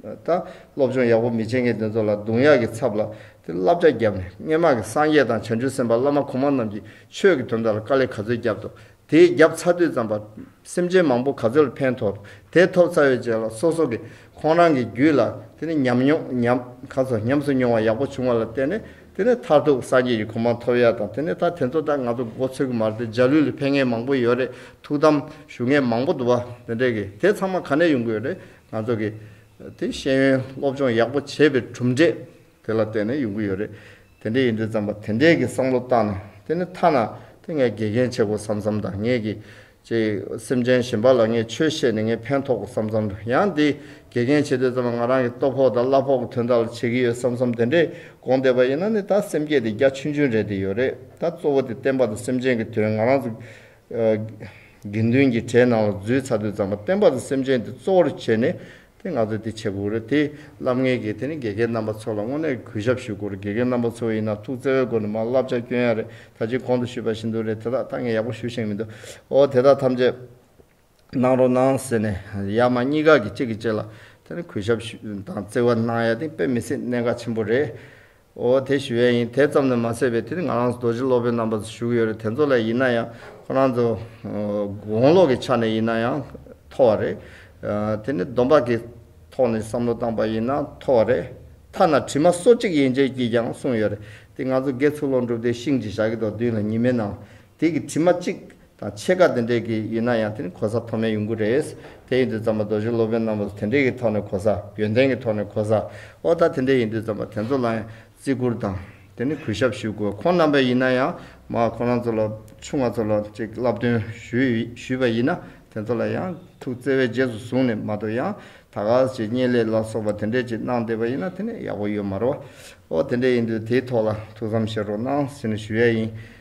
ད་སློབ་སྦྱོང་ཡག་པོ་མི་བྱེད་མཁན་དེ་ཚོ་ལ་རྡུང་ཡག་གི་ཚབ་ལ་དེ་བསླབ་བྱ་བརྒྱབ་ནས་སྨྱན་མང་གི་སངས་རྒྱས་དང་བྱང་ཆུབ་སེམས་དཔའ་བླ་མ་གོང་མ་རྣམས་ཀྱིས་ཆོས་ཀྱི་དོན་དག་ལ་དཀའ་ལས་ག་ཚོད་བརྒྱབ་ཏུ་དེའི་རྒྱབ་ཚ་དུས་ཙམ་པ། སེམས་ཅན་མང་པོ་ག་ཚོད་ལ་ཕན་ཐོགས་དེ་ཐོབ་ཚ་ཡོད་ཅེས་ལ་སོ་སོ་གི་ཁོང་རང་གི་རྒྱུད་ལ་དེ་ནི་ཉམས་མྱོང་ཉམས་ག་ཚོད་ཉམས་སུ་མྱོང་བ་ཡག་པོ་བྱུང་བ་ལ་བརྟེན་ནས་དེ་ནི་མཐར་ཐུག་སངས་རྒྱས་ཀྱི་གོ་འཕང་ཐོབ་ཡ་དང་དེ་ནི་ད་དེ་ཚོ་ད་ང་ཚོ་འགོ་ཚོས་གི་མར་དེ་འཇའ་ལུས་ལ་ཕན་ངེས་མང་པོ་ཡོད་རེད་ཐུགས་དམ་ཞུ་ངེས་མང་པོ་འདུག་བ་དེ་འདྲས་གི་དེ་ཚང་མ་ག་ནས་ཡོང་གི་ཡོད་རེད་ང་ཚོ་གི་དེ་ཤེས་ཡོན་སློབ་སྦྱོང་ཡག་པོ་བྱས་པའི་གྲུབ་འབྲས། དེ་ལ་བརྟེན་ནས་ཡོང་གི་ཡོད་རེད། དེ་འདྲས་ཡིན་དུས་བརྩམས་པ་དེ་འདྲས་ཀྱི་བསམ་བློ་བཏང་ནས་དེ་ནི་ཐ་ན་དེ་ངས་དགེ་རྒན་བྱེད་དགོས་བསམ་བསམ་དང་ངེད་ཀྱི། ཅེས། སེམས་ཅན་གཞན་པ་ལ་ངས་ཆོས་བཤད་ནས་ངས་ཕན་ཐོགས་དགོས་བསམ་བསམ་དང་ཡང་འདི་དགེ་རྒན་བྱེད་དུས་བརྩམས་པ་ང་རང་གི་སྟོབས་ཕོག་དང་གླ་ཕོག་གི་དོན་དག་ལ་བྱེད་ཀྱི་ཡོད་བསམ་བསམ་དེ་འདྲས་དགོངས་བསྡད་པ་ཡིན་ན་ནི་ད་སེམས་བསྐྱེད་དེ་རྒྱ་ཆུན་ཆུན་རེད་དེ་ཡོད་རེད་ད་གཙོ་བོ་དེ་བསྟན་པ་དང་སེམས་ཅན་གྱི་དོན་ང་རང་ཚོ་དགེ་འདུན་གྱི་གྲས་ནང་ལ་རྫུས་ཚ་དུས་ཙམ་པ་བསྟན་པ་དང་སེམས་ཅན་དེ་གཙོ་བོར་བྱས་ནས་དེ་ང་ཚོས་དེ་བྱེད་དགོས་རེད་དེ་བསླབ་ངེས་ཀྱི་དེ་ནི་དགེ་རྒན་རྣམ་པ་ཚོ་ལ་དངོས་གནས་གུས་ཞབས་ཞུ་དགོས་རེད་དགེ་རྒན་རྣམ་པ་ཚོ་ཡིན་ན་ཐུགས་བརྩེ་བའི་སྒོ་ནས་མ་བསླབ་བྱ་སྐྱོན་ཡག་རེད་ད་ཅིག་གོང་དུ་ཞུས་པ་བཞིན་དུ་རེད་དེ་དག་ད་ངས་ཡག་པོ་ཞུ་ཤེས་ཀྱི་མི་འདུག་ཨོ་དེ་དག་ཐམས་ཅད་གནང་རོགས་གནང་ཟེར་ནས་ཡར་མར་གཉིས་ཀ་གིས་གཅིག་གིས་གཅིག་ལ་དེ་ནི་གུས་ཞབས་ཞུ་དང་བརྩེ་བ་གནང་ཡ་དེ་དཔེ་མི་སྲིད་གནད་འགག་ཆེན་པོ་རེད། འོ་དེ་ཞུ་ཡ་ཡིན་དེ་ཙམ་ནས་མ་ཟད་པའི་དེ་ནི་ང་རང་རྡོ་རྗེ་སློབ་དཔོན་རྣམ་པ་ཚོ་ཞུགས་ཡོད་རེད་དེ་ཚོ་ལ་ཡིན་ན་ཡང་ཁོ་རང་ཚོ་དགོངས་ཀློག་གི་ཆ་ནས་ཡིན་ན་ཡང་མཐོ་བ་རེད། དེ་ནི་སྡོམ་པ་གི་ཐོག་ནས་བསམ་བློ་བཏང་པ་ཡིན་ན་མཐོ་བ་རེད། ཐ་ན་དྲི་མ་སོ་གཅིག་ཡན་ཆད་ཀྱིས་ཀྱང་གསུངས་ཡོད་རེད་དེ་ང་ཚོ་དགེ་ཚུལ་སློང་གྲུབ་སྟེ་ཤིང་གཅིག་ཞག་གི་ཐོག་བདུན་ལ་ཉི་མའི་ནང་དེ་གི་དྲི་མ་གཅིག་དང་ཕྱེད་ཀ་དེ་འདྲས་ཀྱི་ཡིན་ན་ཡང་དེ་ནི་གོ་ས་མཐོ་དམན་ཡོང་གི་རེད། དེ་ཡིན་དུས་ཙམ་པ་རྡོ་རྗེ་སློབ་དཔོན་རྣམ་པ་ཚོ་དེ་འདྲས་ཀྱི་ཐོག་ནས་གོ་ས་ཡོན་ཏན་གྱི་ཐོག་ནས་གོ་ས་ཨོ་ད་དེ་འདྲས་ཡིན་དུས་ཙམ་པ་དེ་ཚོ་ལ་ཡང་བརྩི་བཀུར་དང་དེ་ནི་གུས་ཞབས་ཞུ་དགོས་ཁོང་རྣམ་པས་ཡིན་ན་ཡང་མ་ཁོང་རང་ཚོ་ལ་ཆུང་ང་ཚོ་ལ་ཅིག་བསླབ་སྟོན་ཞུས་པ་ཡིན་ན་དེ་ཚོ་ལ་ཡང་ཐུགས་བརྩེ་བས་རྗེས་སུ་བཟུང་ནས་མ་ཏོ་ཡང་ད་ག་ཅིག་བསྙེན་ལས་ལ་སོགས་པ་དེ་འདྲས་ཅིག་གནང་བསྡད་པ་ཡིན་ན་དེ་ནི་ཡག་པོ་ཡོད་མ་རོ། ཨོ་དེ་འདྲས་ཡིན་དུས་དེའི་ཐོག་ལ་ཐུགས་བསམ་བཞེས་རོགས་གནང་ཟེར་ནས་ཞུ་ཡ་ཡིན།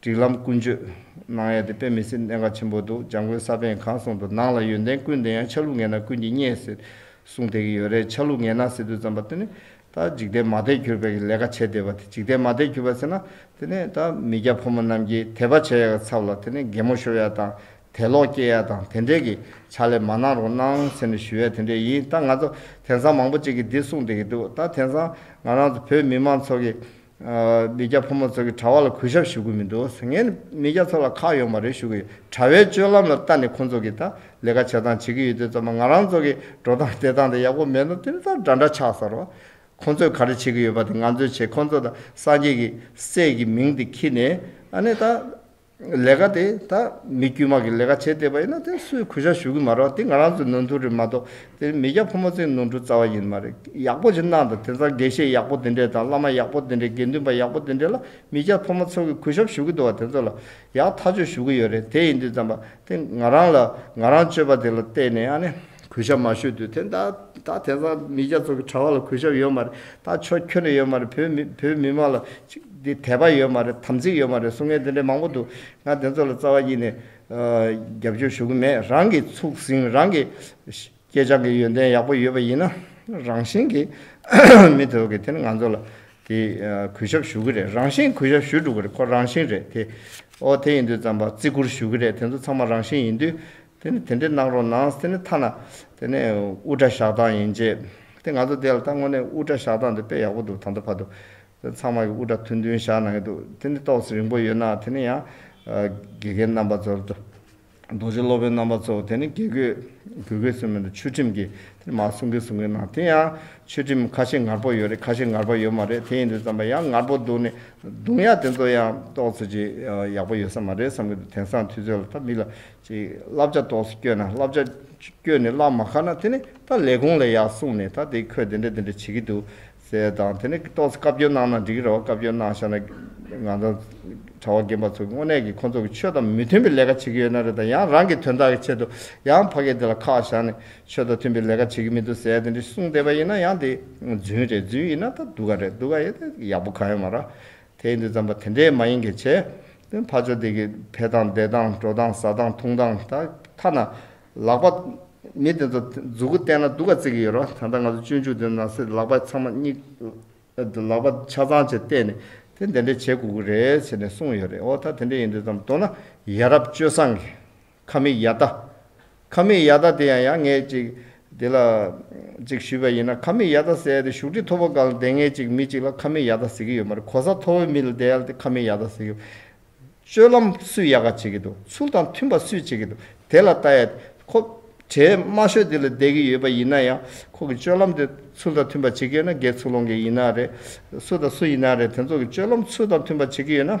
སྒྲིག་ལམ་ཀུན་སྤྱོད། གནང་ཡ་དེ་དཔེ་མི་སྲིད་གནད་འགག་ཆེན་པོ་འདུག་འཇང་དགོན་ས་པཎ་གང་གསུང་དུ་ནང་ལ་ཡོན་ཏན་ཀུན་ལྡན་ཡང་ཆ་ལུགས་ངན་ན་ཀུན་གྱིས་བརྙས་ཟེར་གསུང་དེ་གི་ཡོད་རེད་ཆ་ལུགས་ངན་ན་ཟེར་དུས་ཙམ་པ་དེ་ནི་ད་འཇིག་རྟེན་མ་དད་གྱུར་པའི་གི་ལས་ཀ་བྱས་བསྡད་པ་དེ་འཇིག་རྟེན་མ་དད་གྱུར་པ་ཟེར་ན་དེ་ནི་ད་མི་སྐྱ་ཕོ་མོ་རྣམས་ཀྱིས་དད་པ་བྱས་ཡ་གི་ཚབ་ལ་དེ་ནི་རྒན་མོ་ཤོར་ཡ་དང་དད་ལོག་སྐྱེས་ཡ་དང་དེ་འདྲས་གི་ཕྱག་ལས་མ་གནང་རོགས་གནང་ཟེར་ནས་ཞུ་ཡ་དེ་འདྲས་ཡིན་ད་ང་ཚོ་དེང་སང་མང་པོ་ཅིག་གི་འདི་གསུང་དེ་གི་འདུག་ད་དེང་སང་ང་རང་ཚོ་བོད་མི་མང་ཚོགས་ཀྱི་མི་སྐྱ་ཕོ་མོ་ཚོ་གི་གྲྭ་བ་ལ་གུས་ཞབས་ཞུ་གི་མི་འདུག་ངས་ནི་མི་སྐྱ་ཚོ་ལ་ཁག་ཡོད་མ་རེད་ཞུ་གི་ཡོད་གྲྭ་བའི་སྤྱོད་ལམ་ལ་ལྟ་ནས་ཁོང་ཚོ་གི་ད་ལས་ཀ་བྱེད་སྟངས་བྱེད་གི་ཡོད་དུས་ཙམ་ང་རང་ཚོ་གི་འགྲོ་སྟངས་བསྡད་སྟངས་དེ་ཡག་པོ་མེད་ན་དེ་ནི་ད་འདྲ་འདྲ་ཆགས་ས་རོགས་ཁོང་ཚོས་ག་རེ་བྱེད་གི་ཡོད་པ་དེ་ང་ཚོས་བྱེད་ཁོང་ཚོ་ད་སངས་རྒྱས་ཀྱི་སྲས་ཀྱི་མིང་དེ་ཁྱི་ནས་ཨ་ནི་ད། ལས་ཀ་དེ་ད་མི་དཀྱུས་མ་གི་ལས་ཀ་བྱས་བསྡད་པ་ཡིན་ན་དེ་སུས་གུས་ཞག་ཞུ་གི་མ་རོག་དེ་ང་རང་ཚོའི་ནོར་འཁྲུལ་རེད་མ་གཏོགས་དེ་མི་སྐྱ་ཕོ་མོ་ཚོའི་ནོར་འཁྲུལ་རྩ་བ་ཡིན་མ་རེད་ཡག་པོ་ཞིག་གནང་དང་དེང་སང་དགེ་བཤེས་ཡག་པོ་དེ་འདྲས་དང་བླ་མ་ཡག་པོ་དེ་འདྲས་དགེ་འདུན་པ་ཡག་པོ་དེ་འདྲས་ལ་མི་སྐྱ་ཕོ་མོ་ཚོ་གི་གུས་ཞབས་ཞུ་གི་འདུག་བ་དེ་ཚོ་ལ་ཡག་ཐག་ཆོད་ཞུ་གི་ཡོད་རེད་དེ་ཡིན་དུས་ཙམ་པ་དེ་ང་རང་ལ་ང་རང་སྤྱོད་པ་དེ་ལ་བལྟས་ནས་ཨ་ནེ་གུས་ཞབས་མ་ཞུས་དུས་དེ་ད་ད་དེང་སང་མི་རྒྱ་ཚོགས་ཀྱི་གྲྭ་བ་ལ་གུས་ཞབས་ཡོད་མ་རེད་ད་ཆོ་ཁྱོད་ནས་ཡོད་མ་རེད་བོད་མི་བོད་མི་མང་ལ་ཅིག་དད་པ་ཡོད་མ་རེད་དམ་ཚིག་ཡོད་མ་རེད་གསུང་མཁན་དེ་འདྲའི་མང་པོ་འདུག་ང་དེ་ཚོ་ལ་རྩ་བ་དབྱིས་ནས་རྒྱབ་སྐྱོར་ཞུ་གི་མེད་རང་གི་ཚུགས་ཟིན་རང་གི་སྐྱེས་སྦྱངས་ཀྱི་ཡོན་ཏན་ཡག་པོ་ཡོད་པ་ཡིན་ན་རང་བཞིན་གྱིས་མི་དེ་ཚོ་གི་དེ་ནི་ང་ཚོ་ལ་དེ་གུས་ཞབས་ཞུ་གི་རེད་རང་བཞིན་གུས་ཞབས་ཞུས་འགྲོ་གི་རེད་ཁོ་རང་བཞིན་རེད་དེ་ཨོ་དེ་ཡིན་དུས་ཙམ་པ་བརྩི་བཀུར་ཞུ་གི་རེད་དེ་ཚོ་ཚང་མ་རང་བཞིན་ཡིན་དུས་དེ་ནི་དེ་འདྲའི་གནང་རོགས་གནང་དེ་ནི་ཐ་ན་དེ་ནི་དབུ་སྐྲ་བཞག་སྟངས་ཡིན་རྗེས་དེ་ང་ཚོ་དེ་ལ་ད་དངོས་གནས་དབུ་སྐྲ་བཞག་སྟངས་དེ་དཔེ་ཡག་པོ་འདུག་ད་འདོད་ཕ་དུ་དེ་ཚང་མ་གི་དབུ་སྐྲ་ཐུན་ཐུན་བཞག་གནང་གི་འདུག་དེ་ནི་ཏོག་ཙེ་རིང་པོ་ཡོད་ན་དེ་ནི་ཡང་དགེ་རྒན་རྣམ་པ་ཚོར་དུ་རྡོ་རྗེ་སློབ་དཔོན་རྣམ་པ་ཚོ་དེ་ནི་དགེ་བསྐོས་དགོས་གལ་སུན་མི་འདུག་ཆོས་ཁྲིམས་ཀྱིས་དེ་ནི་མ་གསུང་གི་གསུང་གི་གནང་དེ་ཡང་ཆོས་ཁྲིམས་ཁ་ཤས་ངར་པོ་ཡོད་རེད་ཁ་ཤས་ངར་པ་ཡོད་མ་རེད་དེ་ཡིན་དུས་བརྩམས་པ་ཡང་ངར་པོ་འདུག་ནི་འདུག་ཡང་དེ་ཚོ་ཡང་ཏོག་ཙེ་ཅིག་ཡག་པོ་ཡོད་ས་མ་རེད་བསམ་གི་འདུག་དེང་སང་དུས་ཚོད་ལ་ད་མིག་ལ་ཅིག། བསླབ་བྱ་དོགས་སུ་བསྐྱོད་ན་བསླབ་བྱ། བསྐྱོད་ནས་བསླབ་མ་ཁ་ན་དེ་ནི་ད་ལས་གོང་ལས་ཡག་གསུངས་ནས་ད་དེ་ཁོས་དེ་འདྲ་དེ་འདྲ་བྱེད་ཀྱི་འདུག་ཟེར་དང་དེ་ནི་ཏོག་བཀའ་བཀྱོན་གནང་ན་འགྲིག་གི་རེད་བཀའ་བཀྱོན་གནང་ཤག་ན། ང་ཚོ་གྲྭ་བ་རྒན་པ་ཚོ་དངོས་གནས་ཀྱི་ཁོ་ཚོ་གི་ཆོས་དང་མི་མཐུན་པའི་ལས་ཀ་བྱེད་ཀྱི་ཡོད་ན་རེད་དང་ཡང་རང་གི་དོན་དག་གི་ཆེད་དུ་ཡང་ཕ་སྐད་དེ་ལ་ཁག་བཞག་ནས་ཆོས་དང་མཐུན་པའི་ལས་ཀ་བྱེད་ཀྱི་མི་འདུག་ཟེར་དེ་འདྲ་གསུངས་བསྡད་པ་ཡིན་ན་ཡང་དེ་རྫུན་རེད་རྫུན་ཡིན་ན་ད་སྡུག་ག་རེད་སྡུག་ག་ཡིན་ན་ཡག་པོ་གང་ཡང་མ་རག་དེ་ཡིན་དུ་བརྩམས་པ་དེ་འདྲས་མ་ཡིན་གྱི་ཆེ། དེ་ཕར་ཕྱོགས་དེ་གི་འཕེལ་སྟངས་བདེ་སྟངས་འགྲོ་སྟངས་ཟ་སྟངས་འཐུང་སྟངས་ད་ཐ་ན། ལག་པ། མི་དེ་ཚོ་མཛུ་གུ་བསྟན་ན་སྡུག་ག་བརྩི་གི་ཡོད་རོ་ད་ལྟ་ང་ཚོ་སྤྱོད་འཇུག་དེ་ནང་སེ་ལག་པ་ཚང་མ་སྙིག། ལག་པ་ཆ་ཚང་བཅས་བསྟན་ནས་དེ་འདི་འདྲས་བྱེད་དགོས་ཀི་རེད་ཟེར་ནས་གསུངས་ཡོད་རེད་འོ་ད་དེ་འདྲས་ཡིན་དུ་བརྩམས་མདོར་ན་ཡ་རབས་སྤྱོད་བཟང་གི། ཁ་མིག་ཡ་ད། ཁ་མིག་ཡ་ད་དེ་ཡང་ཡ་ངས་ཅིག། དེ་ལ། ཅིག་ཞུས་པ་ཡིན་ན་ཁ་མིག་ཡ་ད་ཟེར་ཏེ་བཞུགས་ཁྲི་མཐོ་པོ་གང་ལ་བསྡད་ངས་ཅིག་མི་ཅིག་ལ་ཁ་མིག་ཡ་ད་ཟེར་གྱི་ཡོད་མ་རེད་གོ་ས་མཐོ་བོའི་མི་ལ་བསྡད་ཡ་ལ་དེ་ཁ་མིག་ཡ་ད་ཟེར་གྱི། སྤྱོད་ལམ་སུས་ཡག་ག་བྱེད་ཀྱི་འདུག་ཚུལ་དང་མཐུན་པ་སུས་བྱེད་ཀྱི་འདུག་དེ་ལ་བལྟ་ཡ། ཁོ། གྲས་དམའ་ཤོས་དེ་ལ་བསྡད་ཀྱི་ཡོད་པ་ཡིན་ན་ཡང་ཁོ་གི་སྤྱོད་ལམ་དེ་ཚུལ་དང་མཐུན་པ་བྱེད་ཀྱི་ཡོད་ན་སྒེར་ཚུགས་སློང་གི་ཡིན་ན་རེད། སུ་དང་སུ་ཡིན་ན་རེད་དེ་ཚོ་གི་སྤྱོད་ལམ་ཚུལ་དང་མཐུན་པ་བྱེད་ཀྱི་ཡོད་ན།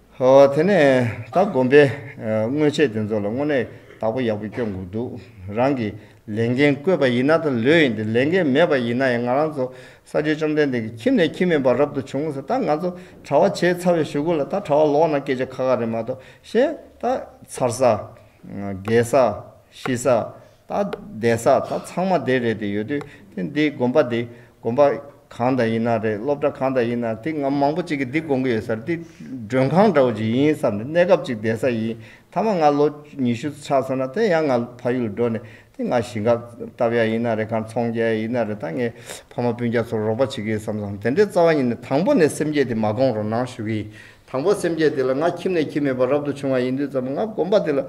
དེ་ནས་ད་སྒོམ་པའི་དངོས་ཆས་དེ་ཚོ་ལ་དངོས་གནས་བདག་པོ་ཡག་པོ་སྐྱོ་དགོས་འདུག་རང་གི་ལས་འགན་བསྐོས་པ་ཡིན་ན་ད་ལོས་ཡིན་ཏེ་ལས་འགན་མེད་པ་ཡིན་ན་ཡང་ང་རང་ཚོ་ས་སྤྱོད་བཅོམ་ལྡན་འདས་ཀྱི་ཁྱིམ་ནས་ཁྱིམ་མིན་པ་རབ་ཏུ་བྱུང་ཟེར་ད་ང་ཚོ་གྲྭ་བ་བྱས་ཚར་བའི་ཞུ་གུ་ལ་ད་གྲྭ་བ་ལོག་ན་སྐད་ཆ་ཁ་ཁ་རེད་མ་གཏོགས་གཞན་ད་ཚར་ས། རྒས་ས། ཤི་ས། ད་གདན་ས་ད་ཚང་མ་དེ་རེད་དེ་ཡོད་དུས་དེ་འདི་དགོན་པ་འདི་དགོན་པ་གང་དང་ཡིན་ན་རེད་སློབ་གྲྭ་གང་དང་ཡིན་ན་དེ་ང་མང་པོ་གཅིག་གིས་འདི་དགོང་གི་ཡོད་སར་འདི་མགྲོན་ཁང་འདྲ་བོ་ཅིག་ཡིན་བསམ་ནས་གནས་སྐབས་ཅིག་གདན་ས་ཡིན་མཐའ་མ་ང་ལོ་ཉི་ཤུ་ཆགས་སོང་ན་དེ་ཡང་ང་ཕ་ཡུལ་ལ་འགྲོ་ནས་དེ་ང་ཞིང་ཁ་བཏབ་ཡ་ཡིན་ན་རེད་ཁང་ཚོང་རྒྱག་ཡ་ཡིན་ན་རེད་ད་ངའི་ཕ་མ་སྤུན་རྒྱ་ཚོར་རོགས་པ་བྱེད་གི་ཡོད་བསམ་སོང་དེ་འདྲའི་རྩ་བ་ཉིད་ནས་དང་པོ་ནས་སེམས་བསྐྱེད་དེ་མ་དགོངས་རོགས་གནང་ཞུ་གི་ཡིན་དང་པོ་སེམས་བསྐྱེད་དེ་ལ་ང་ཁྱིམ་ནས་ཁྱིམ་མེད་པར་རབ་ཏུ་བྱུང་བ་ཡིན་དུས་ཙམ་ང་དགོན་པ་འདི་ལ་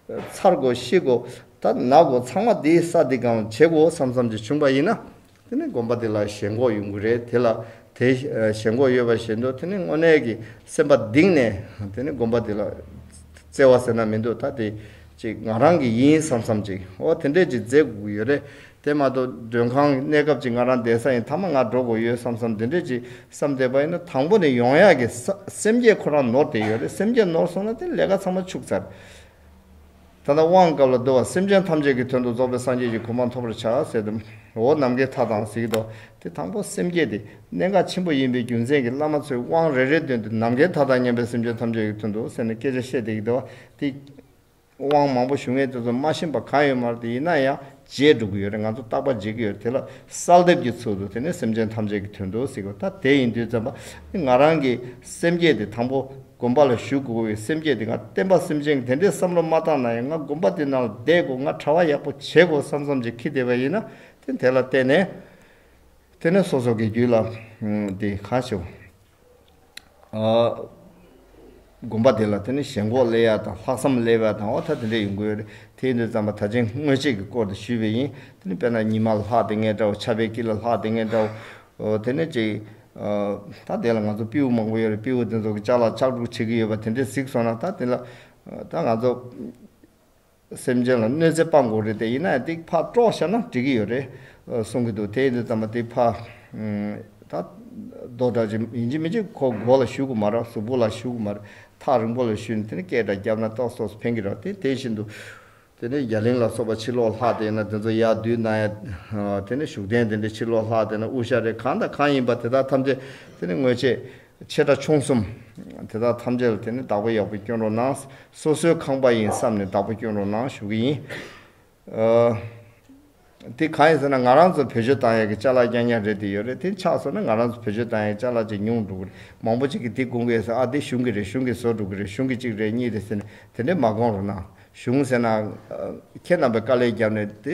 ཚར་དགོ་ཤི་དགོ་ད་ན་དགོ་ཚང་མ་དེ་ས་དེ་གང་བྱེད་དགོ་བསམ་བསམ་གྱི་བྱུང་བ་ཡིན་ན་དེ་ནི་དགོན་པ་དེ་ལ་ཞེན་ཁོག་ཡོང་གི་རེད་དེ་ལ་དེ་ཞེན་ཁོག་ཡོད་པ་བཞིན་དུ་དེ་ནི་དངོས་གནས་ཀྱི་སེམས་པ་གདིང་ནས་དེ་ནི་དགོན་པ་དེ་ལ་བརྩེ་བ་ཟེར་ན་མི་འདུག་ད་དེ་ཅིག་ང་རང་གི་ཡིན་བསམ་བསམ་ཅིག་ཨོ་དེ་འདྲས་ཀྱི་མཛད་སྒོ་ཡོད་རེད་དེ་མ་གཏོགས་མགྲོན་ཁང་གི་གནས་སྐབས་ཀྱི་ང་རང་བསྡད་ས་ཡིན་མཐའ་མ་ང་འགྲོ་དགོས་ཡོད་བསམ་བསམ་འདི་འདྲས་ཀྱིས་བསམ་བསྡད་པ་ཡིན་ན་དང་པོ་ནས་ཡོང་ཡག་གི་སེམས་བསྐྱེད་ཁོ་རང་ནོར་བསྡད་ཡོད་རེད་སེམས་བསྐྱེད་ནོར་སོང་ན་དེ་ལས་ཀ་ཚང་མ་ཕྱུགས་ཚར། ད་ལྟ་དབང་སྐབས་ལ་བསྡོད་བ་སེམས་ཅན་ཐམས་ཅད་ཀྱི་དོན་དུ་རྫོགས་པའི་སངས་རྒྱས་ཀྱི་གོ་འཕང་ཐོབ་པར་བྱ་ཟེར་དུ་འོ་ནམ་མཁའི་མཐའ་དང་གཟིགས་དོ་དེ་དང་པོ་སེམས་བསྐྱེད་དེ་གནད་འགག་ཆེན་པོ་ཡིན་པས་རྒྱུ་མཚན་གྱི་བླ་མ་ཚོས་དབང་རེ་རེ་བཏོན་ཏེ་ནམ་མཁའི་མཐའ་དང་མཉམ་པའི་སེམས་ཅན་ཐམས་ཅད་ཀྱི་དོན་དུ་ཟེར་ནས་སྐད་ཆ་བཤད་བསྡད་ཀྱི་འདུག་བ་དེ། དབང་མང་པོ་ཞུ་མཁན་དེ་ཚོ་མ་ཤེས་པ་གང་ཡོད་མ་རེད་དེ་ཡིན་ན་ཡང་བརྗེད་འགྲོ་གི་ཡོད་རེད་ང་ཚོ་རྟག་པར་བརྗེད་ཀྱི་ཡོད་རེད་དེ་ལ་གསལ་འདེབས་ཀྱི་ཚུལ་དུ་དེ་ནི་སེམས་ཅན་ཐམས་ཅད་ཀྱི་དོན་དུ་གཟིགས་པ་ད་དེ་ཡིན་དུས་བཙན་པ་ནི་ང་རང་གི་སེམས་བསྐྱེད་དེ་དང་པོ་དགོན་པ་ལ་ཞུ་དགོས་ཀྱི་ཡོད་སེམས་བསྐྱེད་དེ་ང་བསྟན་པ་སེམས་ཅན་གྱི་དེ་འདྲའི་བསམ་བློ་མ་བཏང་ན་ཡང་ང་དགོན་པ་དེ་ནང་ལ་བསྡད་དགོས་ང་གྲྭ་བ་ཡག་པོ་བྱེད་དགོས་བསམ་བསམ་ཅིག་གིས་བསྡད་པ་ཡིན་ན་དེ་དེ་ལ་བལྟས་ནས་དེ་ནི་སོ་སོ་གི་རྒྱུད་ལ་དེ་གང་ཞིག། བསྒོམ་པ་དེ་ལ་དེ་ནི་ཞེན་ཁོག་སླེ་ཡ་དང་ལྷག་བསམ་སླེ་བ་དང་འོ་ཐ་དེ་འདྲ་ཡོད་འགོ་ཡོད་རེད་དེའི་འདིར་རྩམ་པ་ད་ཅིང་སྔོན་ཆད་ཀྱི་སྐོར་དེ་ཞུས་པས་ཡིན་དེ་ནི་དཔེར་ན་ཉི་མ་ལ་ལྷག་དེ་ངས་འདྲ་བོ་ཆབ་པའི་དཀྱིལ་ལ་ལྷག་དེ་ངས་འདྲ་བོ་དེ་ནི་ཅིག། ད་དེ་ལ་ང་ཚོ་སྤེའུ་མང་པོ་ཡོད་རེད་སྤེའུ་དེ་ཚོ་གི་ལྕགས་ལ་ལྕགས་སྒྲོག་བྱེད་ཀྱི་ཡོད་པ་དེ་འདྲས་གཟིགས་སོང་ན་ད་དེ་ལ་ད་ང་ཚོ། སེམས་ཅན་ལ་གནོད་འཚེ་སྤངས་དགོས་རེད་དེ་ཡིན་ན་ཡང་ཏིག་ཕག་ཀྲོག་བཞག་ན་འགྲིག་གི་ཡོད་རེད་གསུང་གི་འདུག་དེ་ཡིན་དུས་ཙམ་མ་ཏིག་ཕག། ད། རྡོ་བྲག་ཅིག་ཡིན་གཅིག་མིན་གཅིག་ཁོ་མགོ་ལ་ཞུགས་གི་མ་རེད་གཟུགས་པོ་ལ་ཞུགས་གི་མ་རེད་ཐག་རིང་པོ་ལ་ཞུས་ནས་དེ་ནས་སྐད་སྒྲ་བརྒྱབ་ན་ཏོག་སོགས་སུ་འཕེན་གི་རེད་དེ་དེ་བཞིན་དུ། དེ་ནས་རྒྱ་གླིང་ལ་སོགས་པ་ཕྱིར་ལོག་ལྷག་དེ་ཡིན་ན་དེ་ཚོ་ཡར་བསྡུས་གནང་ཡ། དེ་ནས་བཞུགས་གདན་དེ་འདྲས་ཕྱིར་ལོག་ལྷག་དེ་ན་དབུ་ཞྭ་རེད་གང་དང་གང་ཡིན་པ་དེ་དག་ཐམས་ཅད་དེ་ནས་དངོས་ཆས། ཆེ་ཕྲ་ཆུང་གསུམ། དེ་དག་ཐམས་ཅད་ལ་དེ་ནི་བདག་པོ་ཡག་པོ་སྐྱོན་རོགས་གནང། སོ་སོའི་ཁང་པ་ཡིན་བསམ་ནས་བདག་པོ་སྐྱོན་རོགས་གནང་ཞུ་གི་ཡིན། དེ་གང་ཡིན་ཟེར་ན་ང་རང་ཚོ་བོད་ཆོས་དང་ཡག་གི་ལྕགས་ལག་རྐྱང་རྐྱང་རེད་དེ་ཡོད་རེད་དེ་འཆག་སོང་ན་ང་རང་ཚོ་བོད་ཆོས་དང་ཡག་གི་ལྕགས་ལག་ཅིག་ཉུང་འགྲོ་གི་རེད་མང་པོ་ཅིག་གིས་དེ་བསྐུང་གི་ཟེར་ཨ་དེ་གཞུང་གི་རེད་གཞུང་གིས་བཟོ་འགྲོ་གི་རེད་གཞུང་གི་གཅིག་རེད་གཉིས་རེད་ཟེར་ནས་དེ་འདྲས་མ་བསྐང་རོགས་གནང་གཞུང་ཟེར་ན། ཁྱེད་རྣམས་པའི་དཀའ་ལས་བརྒྱབ་ནས་དེ།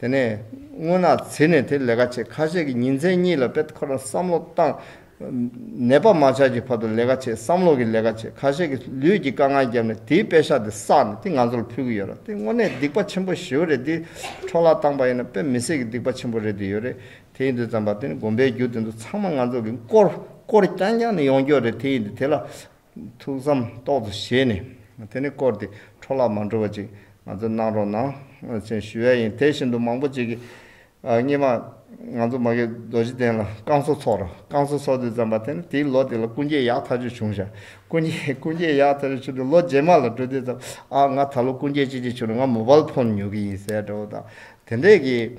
དེ་ནས་སྔོན་ནག་ཚེ་ནས་དེ་ལས་ཀ་བྱེད་ཁ་ཤས་ཀྱི་ཉིན་མཚན་གཉིས་ལ་པད་ཁོ་ར་བསམ་བློ་བཏང། ནད་པ་མ་ཆགས་ཀྱི་བར་དུ་ལས་ཀ་བྱེད་བསམ་བློ་གི་ལས་ཀ་བྱེད་ཁ་ཤས་ཀྱི་ལུས་ཀྱི་དཀའ་ངལ་བརྒྱབ་ནས་དེའི་དཔེ་ཤག་དེ་བསགས་ནས་དེ་ང་ཚོ་ལ་ཕུལ་གྱི་ཡོད་ར་དེ་དངོས་གནས་སྡིག་པ་ཆེན་པོ་ཞེའུ་རེད་དེ་འཕྲོ་བརླག་བཏང་པ་ཡིན་ན་དཔེ་མི་སྲིད་ཀྱི་སྡིག་པ་ཆེན་པོ་རེད་དེ་ཡོད་རེད་དེ་ཡིན་དུས་བརྩམས་པ་དེ་ནི་དགོན་པའི་རྒྱུ་དེ་ཚོ་ཚང་མ་ང་ཚོ་གི་མགོར་སྐོར་རྐྱང་རྐྱང་ནས་ཡོང་རྒྱུ་རེད་དེ་ཡིན་དུས་དེ་ལ་ཐུགས་བསམ་རྟོགས་སོ་ཞེས་ནས་དེ་ནི་བསྐོར་ཏེ་འཕྲོ་བརླག་མ་འགྲོ་བ་ཅིག་ང་ཚོས་གནང་རོགས་གནང་ཞེས་ཞུ་ཡ་ཡིན་དེ་བཞིན་དུ་མང་པོ་ཅིག་གིས་སྙེ་མ་ང་ཚོ་མ་གེ་རྡོ་རྗེ་གདན་ལ་བསྐང་གསོ་ཚོགས་ར་བསྐང་གསོ་ཚོགས་དུས་བརྩམས་པ་དེ་ནི་དེའི་ལོ་དེ་ལ་སྐུ་མཇལ་ཡག་ཐག་ཆོད་བྱུང་ཞག་སྐུ་མཇལ་སྐུ་མཇལ་ཡག་ཐག་ཆོད་བྱུང་སྟེ་ལོ་རྗེས་མ་ལ་འགྲོ་དུས་བརྩམས་ཨ་ང་ད་ལོ་སྐུ་མཇལ་ཅི་ཅི་བྱུང་ནས་ང་མོ་པལ་ཕོན་ཉོ་གི་ཡིན་ཟེར་ཡ་འདྲ་བོ་དང་དེ་འདྲས་ཀྱིས།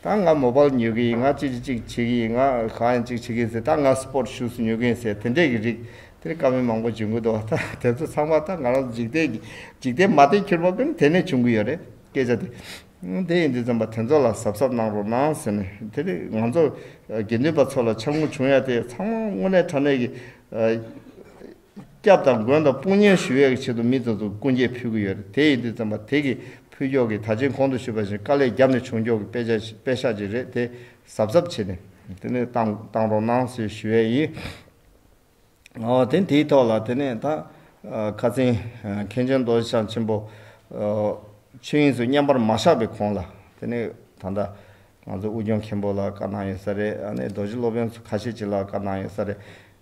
ད་ང་མོ་པལ་ཉོས་ཀྱི་ཡིན་ང་ཅི་ཅི་ཅིག་བྱེད་ཀྱི་ཡིན་ང་གང་ཡང་ཅིག་བྱེད་ཀྱི་ཡིན་ཟེར་ད་ང་སྤོར་ཤུས་ཉོས་ཀྱི་ཡིན་ཟེར་དེ་འདྲས་ཀྱི་རིགས་དེར་དཀའ་མོལ་མང་པོ་བྱེད་དགོས་འདུག་ད་དེ་ཚོ་ཚང་མ་ད་ང་རང་ཚོ་འཇིག་རྟེན་གྱི་འཇིག་རྟེན་མ་བརྟན་ཁྱོད་མོ་པལ་དེ་ནས་བྱུང་གི་ཡོད་རེད་སྐད་ཆ་དེ་དེ་ཡིན་དུས་རྩོམ་པ་དེ་ཚོ་ལ་གཟབ་གཟབ་གནང་རོགས་གནང་ཟེར་ནས་དེ་རིང་ང་ཚོ་དགེ་འདུན་པ་ཚོ་ལ་འཆར་ངོ་བྱུང་ཡ་དེ་ཚང་མ་དངོས་གནས་དྲ་གནས་ཀྱི། སྐྱབས་དང་མགོན་དང་དཔུང་གཉེར་ཞུ་ཡས་ཀྱི་ཆེད་དུ་མི་ཙམ་ཙམ་སྐུ་འགྱེད་ཕུལ་གྱི་ཡོད་རེད་དེ་ཡིན་དུས་ཙམ་པ་དེ་གི་ཕུལ་འགྱོག་གི་ད་ཕྱིན་གོང་དུ་ཞུས་པ་བཞིན་དཀའ་ལས་རྒྱབ་ནས་བྱུང་འགྱོག་གི་དཔེ་ཆ་དཔེ་ཤག་ཅིག་རེད་དེ་གཟབ་གཟབ་བྱེད་ནས་དེ་ནས་བཏང་བཏང་རོགས་གནང་ཞེས་ཞུ་ཡས་ཡིན། ཨོ་དེ་དེའི་ཐོག་ལ་དེ་ནས་ད་ཁ་བཙན་མཁན་ཆེན་རྡོ་རྗེ་འཆང་ཆེན་པོ་ཆོས་དབྱིངས་སུ་བསྙེན་པར་མ་བཞག་པའི་གོང་ལ་དེ་ནས་ད་ལྟ་ང་ཚོ་དབུས་སྐྱོང་མཁན་པོ་ལ་བཀའ་གནང་ཡོད་ས་རེད་ཨ་ནས་རྡོ་རྗེ་སློབ་ཡོན་ཁ་ཤས་ཅིག་ལ་བཀའ་གནང་ཡོད་ས་རེད།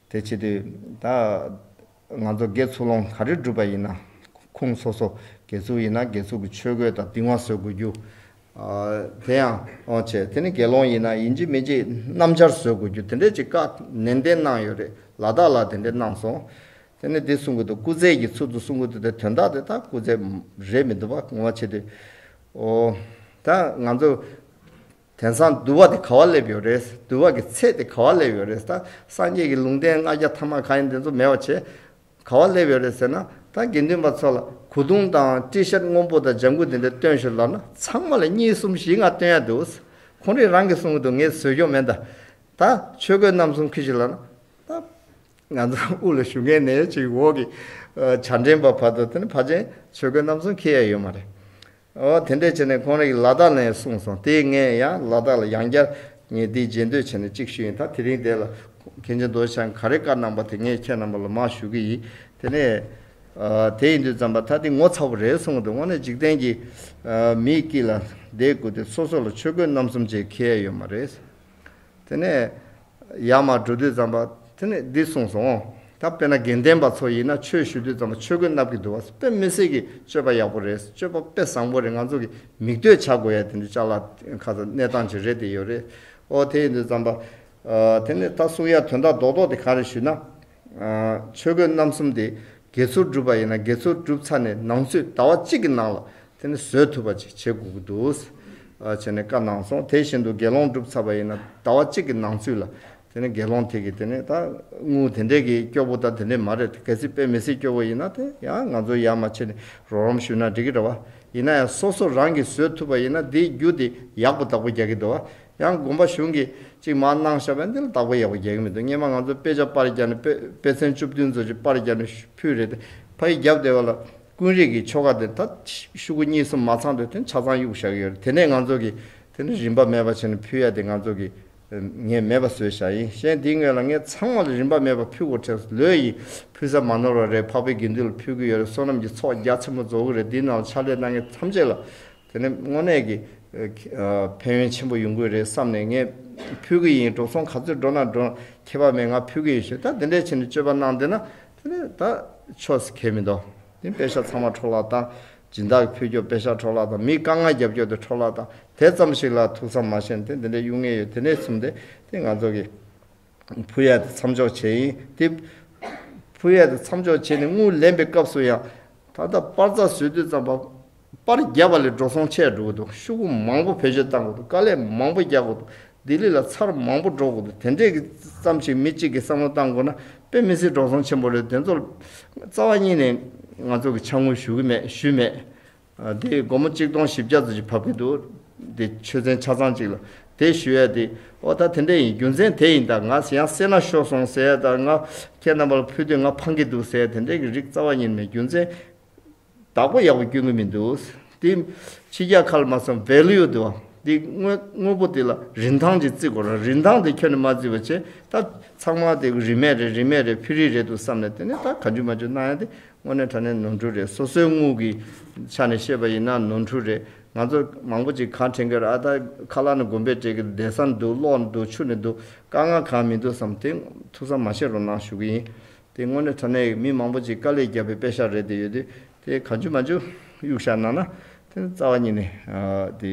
དེ་བྱེད་དུས། ད། ང་ཚོ་དགེ་ཚུལ་སློང་ག་རེ་སྒྲུབ་པ་ཡིན་ན། ཁུངས་སོ་སོ་དགེ་ཚུལ་ཡིན་ན་དགེ་ཚུལ་གྱི་ཆོས་གོས་དང་གདིང་བ་བཟོ་དགོས་རྒྱུ། དེ་ཡང། བྱེད། དེ་ནི་དགེ་སློང་ཡིན་ན་ཡིན་གཅིག་མིན་གཅིག་སྣམ་སྦྱར་བཟོ་དགོས་རྒྱུ་དེ་འདྲའི་ཅིག་བཀའ་ནན་ཏན་གནང་ཡོད་རེད་ལ་དྭགས་ལ་དེ་འདྲའི་གནང་སོང། དེ་ནི་འདི་སྲུང་དགོས་འདུག་སྐུ་རྩེད་ཀྱི་ཚུལ་དུ་སྲུང་དགོས་འདུག་དེ་དོན་དག་དེ་དག་སྐུ་རྩེད་རེད་མི་འདུག་བ་ངོ་མ་བྱེད་དུས། ད། ང་ཚོ། དེང་སང་བསྡུ་བ་དེ་ག་བ་སླེབས་ཡོད་རེད། བསྡུ་བ་གི་ཚད་དེ་ག་བ་སླེབས་ཡོད་རེད་ད། སངས་རྒྱས་ཀྱི་ལུང་བསྟན་ལྔ་བརྒྱ་ཐ་མ་ག་ཡིན་དེ་ཚོ་མེད་བ་བྱས། ག་བ་སླེབས་ཡོད་རེད་ཟེར་ན། ད་དགེ་འདུན་པ་ཚོ་ལ་གོ་དུང་དང་ཏྲི་ཤར་སྔོན་པོ་དང་ལྗང་གུ་དེ་འདྲ་སྟོན་ཞོར་ལབ་ན་ཚང་མ་ལ་གཉིས་གསུམ་བཞི་ལྔ་སྟོན་ཡ་འདུག། ཁོང་རིགས་རང་གིས་གསུང་གི་འདུག་ངས་བཟོས་ཀྱོག་མེད་ད། ད་ཆོས་གོས་རྣམ་གསུམ་ཁུར་ཞིག་ལབ་ན། ད། ང་ཚོ་དབུས་ལ་བཞུགས་མཁན་ནས་ཅིག་འོག་གི་བྱ་འདྲེན་པ་བར་དུ་དེ་ནི་ཕ་ཆེན་ཆོས་གོས་རྣམ་གསུམ་ཁུར་ཡ་ཡོད་མ་རེད། དེ་འདྲས་བྱས་ནས་ཁོང་རེག་ལ་དག་ལན་གསུངས་སོང་དེ་ངས་ཡང་ལ་དག་ལ་ཡང་བསྐྱར་ངས་འདི་མཇལ་འདོད་བྱས་ནས་ཅིག་ཞུ་ཡིན་ད་དེ་རིང་དེ་ལ་གན་རྒྱ་འདོན་བྱ་ག་རེ་བཀའ་གནང་པ་དེ་ངས་ཁྱེད་རྣམས་པ་ལ་མ་ཞུ་གི་ཡིན་དེ་ནས་དེ་ཡིན་དུས་རྩམ་པ་ད་དེ་ངོ་ཚ་བོ་རེད་གསུངས་དེ་འོང་ནས་འཇིག་རྟེན་གྱི་མིའི་དཀྱིལ་ལ་བསྡད་དགོས་དེ་སོ་སོ་ལ་ཆོས་གོས་རྣམ་གསུམ་བཅས་ཁེལ་ཡ་ཡོད་མ་རེད། དེ་ནས་ཡར་མར་འགྲོ་དུས་ཙམ་པ་དེ་ནས་འདི་གསུངས་སོང་ངོ། ད་དཔེར་ན་དགེ་ལྡན་པ་ཚོ་ཡིན་ན་ཆོས་ཞུ་དུས་ཙམ་པ་ཆོས་གོས་མནབ་ཀྱི་འདུག་བ་དཔེ་མི་སྲིད་ཀྱི་སྤྱོད་པ་ཡག་པོ་རེད་སྤྱོད་པ་དཔེ་བཟང་པོ་རེད་ང་ཚོ་གི་མིག་ལྟོས་བྱ་དགོས་ཡ་དེ་འདི་ལྕགས་ལ་ཁ་ཚ་གནས་སྟངས་ཅིག་རེད་དེ་ཡོད་རེད་ཨོ་དེ་ཡིན་དུས་ཙམ་པ། དེ་ནས་ད་གསུངས་ཡ་དོན་དག་རྡོག་རྡོག་དེ་ག་རེ་ཞུས་ན། ཆོས་གོས་རྣམ་གསུམ་དེ་དགེ་ཚུལ་སྒྲུབ་པ་ཡིན་ན་དགེ་ཚུལ་བསྒྲུབས་ཚར་ནས་ནང་ཆོས་ཟླ་བ་གཅིག་གི་ནང་ལ་དེ་ནི་བཟོས་ཐུབ་པ་ཅིག་བྱེད་དགོས་ཀྱི་འདུག་བྱས་ནས་བཀའ་གནང་སོང་དེ་བཞིན་དུ་དགེ་སློང་བསྒྲུབས་ཚར་བ་ཡིན་ན་ཟླ་བ་གཅིག་གི་ནང་ཚུད་ལ་དེ་ནི་དགེ་སློང་དེ་གིས་དེ་ནི་ད་དངུལ་དེ་འདྲས་ཀྱིས་སྐྱོ་པོ་དང་དེ་འདྲས་མ་རེད་གལ་སྲིད་དཔེ་མི་སྲིད་སྐྱོ་བོ་ཡིན་ན་དེ་ཡང་ང་ཚོ་ཡར་མ་ཕྱིན་ནས་རོགས་རམ་ཞུས་ན་འགྲིག་གི་འདྲ་བ་ཡིན་ན་ཡང་སོ་སོ་རང་གིས་བཟོས་ཐུབ་པ་ཡིན་ན་དེའི་རྒྱུ་དེ་ཡག་པོ་དག་པོ་རྒྱག་གི་འདུག་ཡང་དགོན་པ་གཞུང་གིས་ཅིག་མ་གནང་ཞེས་པ་འདི་ལ་དག་པ་ཡག་པོ་རྒྱག་གི་མི་འདུག་སྙེ་མ་ང་ཚོ་དཔེ་ཆ་དཔར་རྒྱག་ནས་དཔེ་ཚན་བཅུ་བདུན་ཚོ་ཅིག་དཔར་རྒྱག་ནས་ཕུལ་རེད་དེ་ཕ་ཡིས་རྒྱབ་བལྟས་པ་ལ་ཀུན་རིག་གི་ཆོ་ག་དེ་ད་ཤུ་གུ་གཉིས་གསུམ་མ་ཚང་དུས་དོན་ཆ་ཚང་གཡུག་བཞག་གི་ཡོད་རེད་དེ་ནས་ང་ཚོ་གིས་དེ་ནི་རིན་པ་མེད་པ་བྱས་ནས་ཕུལ་ཡ་དེ་ང་ཚོ་གིས་ངས་མེད་པ་བཟོས་བཞག་ཡིན་གཞན་དེའི་ངོས་ལ་ངས་ཚང་མ་ལ་རིན་པ་མེད་པ་ཕུལ་གོ་ཁྲེལ་ལོས་ཡིན་ཕུལ་ས་མ་ནོར་བ་རེད་འཕགས་པའི་དགེ་འདུན་ལ་ཕུལ་གི་ཡོད་རེད་བསོད་ནམས་ཀྱི་ཚོགས་རྒྱ་ཆེན་པོ་རྫོགས་གི་རེད་དེའི་ནང་ལ་ཕྱག་ལས་གནང་མཁན་ཐམས་ཅད་ལ་དེ་ནི་དངོས་གནས་ཀྱི། ཕན་ཡོན་ཆེན་པོ་ཡོང་གི་རེད་བསམ་ནས་ངས་ཕུལ་གྱི་ཡིན་འགྲོ་སོང་ག་ཚོད་འགྲོ་ན་འགྲོ། ཁྱད་པར་མེད་ང་ཕུལ་གྱི་ཡིན་ཞེས་ད་འདི་འདྲའི་ཆེ་ནས་སྤྱོད་པ་གནང་འདོད་ན། དེ་ནི་ད་ཆོས་སུ་གལ་མི་འདུག་དེ་དཔེ་ཆ་ཚང་མ་འཕྲོ་བརླག་དང། སྦྱིན་བདག་གི་ཕུལ་སྐྱོབ་དཔེ་ཆ་འཕྲོ་བརླག་དང་མིའི་དཀའ་ངལ་རྒྱབ་སྐྱོར་དེ་འཕྲོ་བརླག་དང་དེ་ཙམ་ཞིག་ལ་ཐུགས་བསམ་མ་བཞེས་ན་དེ་འདི་འདྲའི་གཡུག་ངེས་ཡོད་དེ་ནས་བཟུང་སྟེ་དེ་ང་ཚོ་གི། བུ་ཡལ་དུ་མཚམས་འཇོག་བྱེད་ཡིན་ཏེ། བུ་ཡལ་དུ་མཚམས་འཇོག་བྱས་ནས་རྔུལ་ལེན་པའི་སྐབས་སུ་ཡང། ད་ལྟ་པར་རྩ་བཟོས་དུས་ཙམ་པར་བརྒྱབ་པ་ལས་འགྲོ་སོང་ཆད་འགྲོ་གི་འདུག་ཤུགས་རྐུབ་མང་པོ་བེད་སྤྱོད་བཏང་གི་འདུག་དཀའ་ལས་མང་པོ་རྒྱག་གི་འདུག་ལྡི་ལི་ལ་ཚར་མང་པོ་འགྲོ་གི་འདུག་དེ་འདྲས་ཙམ་ཞིག་མི་གཅིག་གིས་བསམ་བློ་བཏང་དགོས་ན་དཔེ་མི་སྲིད་འགྲོ་སོང་ཆེན་པོ་རེད་དེ་ཚོར་རྩ་བ་གཉིས་ནས་ང་ཚོ་གིས་ཆ་དངུལ་ཞུ་གི་མེད་ཞུས་མེད། དེ་སྒོར་མོ་གཅིག་སྟོང་བཞི་བརྒྱ་ཙམ་ཞིག་ཕབ་ཀྱི་འདུག་དེ་ཆོས་ཚན་ཆ་ཚང་ཅིག་ལ། དེས་ཞུས་ཡས་དེ། ཨོ་ད་དེ་འདྲ་ཡིན་རྒྱུ་མཚན་དེ་ཡིན་ད་ང་ཡང་སེར་ནག་ཤོར་སོང་ཟེར་ཡས་ད་ང་ཁྱེད་རྣམ་པ་ལ་ཕུལ་དུས་ང་ཕངས་ཀྱི་འདུག་ཟེར་ཡས་དེ་འདྲའི་གི་རིགས་རྩ་བ་ཉིད་མེད་རྒྱུ་མཚན། བདག་པོ་ཡག་པོ་སྐྱོན་གྱི་མི་འདུག་དེ། ཕྱི་རྒྱལ་ཁ་ལ་མ་སོང value དེ་བ། དེ་དངོས་པོ་དེ་ལ་རིན་ཐང་ཅིག་བརྩི་དགོས་ར་རིན་ཐང་དེ་ཁྱོད་ནས་མ་བརྩི་བ་ཆེ་ད། ཚང་མ་དེ་རིན་མེད་རེད་རིན་མེད་རེད་ཕུལ་རིན་རེད་འདུག་བསམ་ནས་དེ་ནས་ད་ག་འཇུ་མ་འཇུ་གནང་ཡས་དེ་དངོས་གནས་དྲ་གནས་ནོར་འཁྲུལ་རེད་སོ་སོའི་དངུལ་གི་ཆ་ནས་བཤད་པ་ཡིན་ན་ནོར་འཁྲུལ་རེད་ང་ཚོ་མང་པོ་ཅིག་གང་དྲན་གིར་ཨ་ད་ཁ་ལག་ནས་དགོན་པའི་གྲས་ཀྱི་བསྡད་སར་འདུག་གློག་ནས་འདུག་ཆུ་ནས་འདུག་དཀའ་ངལ་གང་མི་འདུག་བསམ་དེ་ཐུགས་བསམ་མ་བཞེས་རོགས་གནང་ཞུ་གི་ཡིན་དེ་དངོས་གནས་དྲ་གནས་མི་མང་པོ་ཅིག་དཀའ་ལས་བརྒྱབ་པའི་དཔེ་ཤག་རེད་དེ་ཡོད་དུས་དེ་གང་བྱུང་མ་བྱུང་གཡུག་ཤག་གནང་ན་དེ་རྩ་བ་ཉིད་ནས་དེ།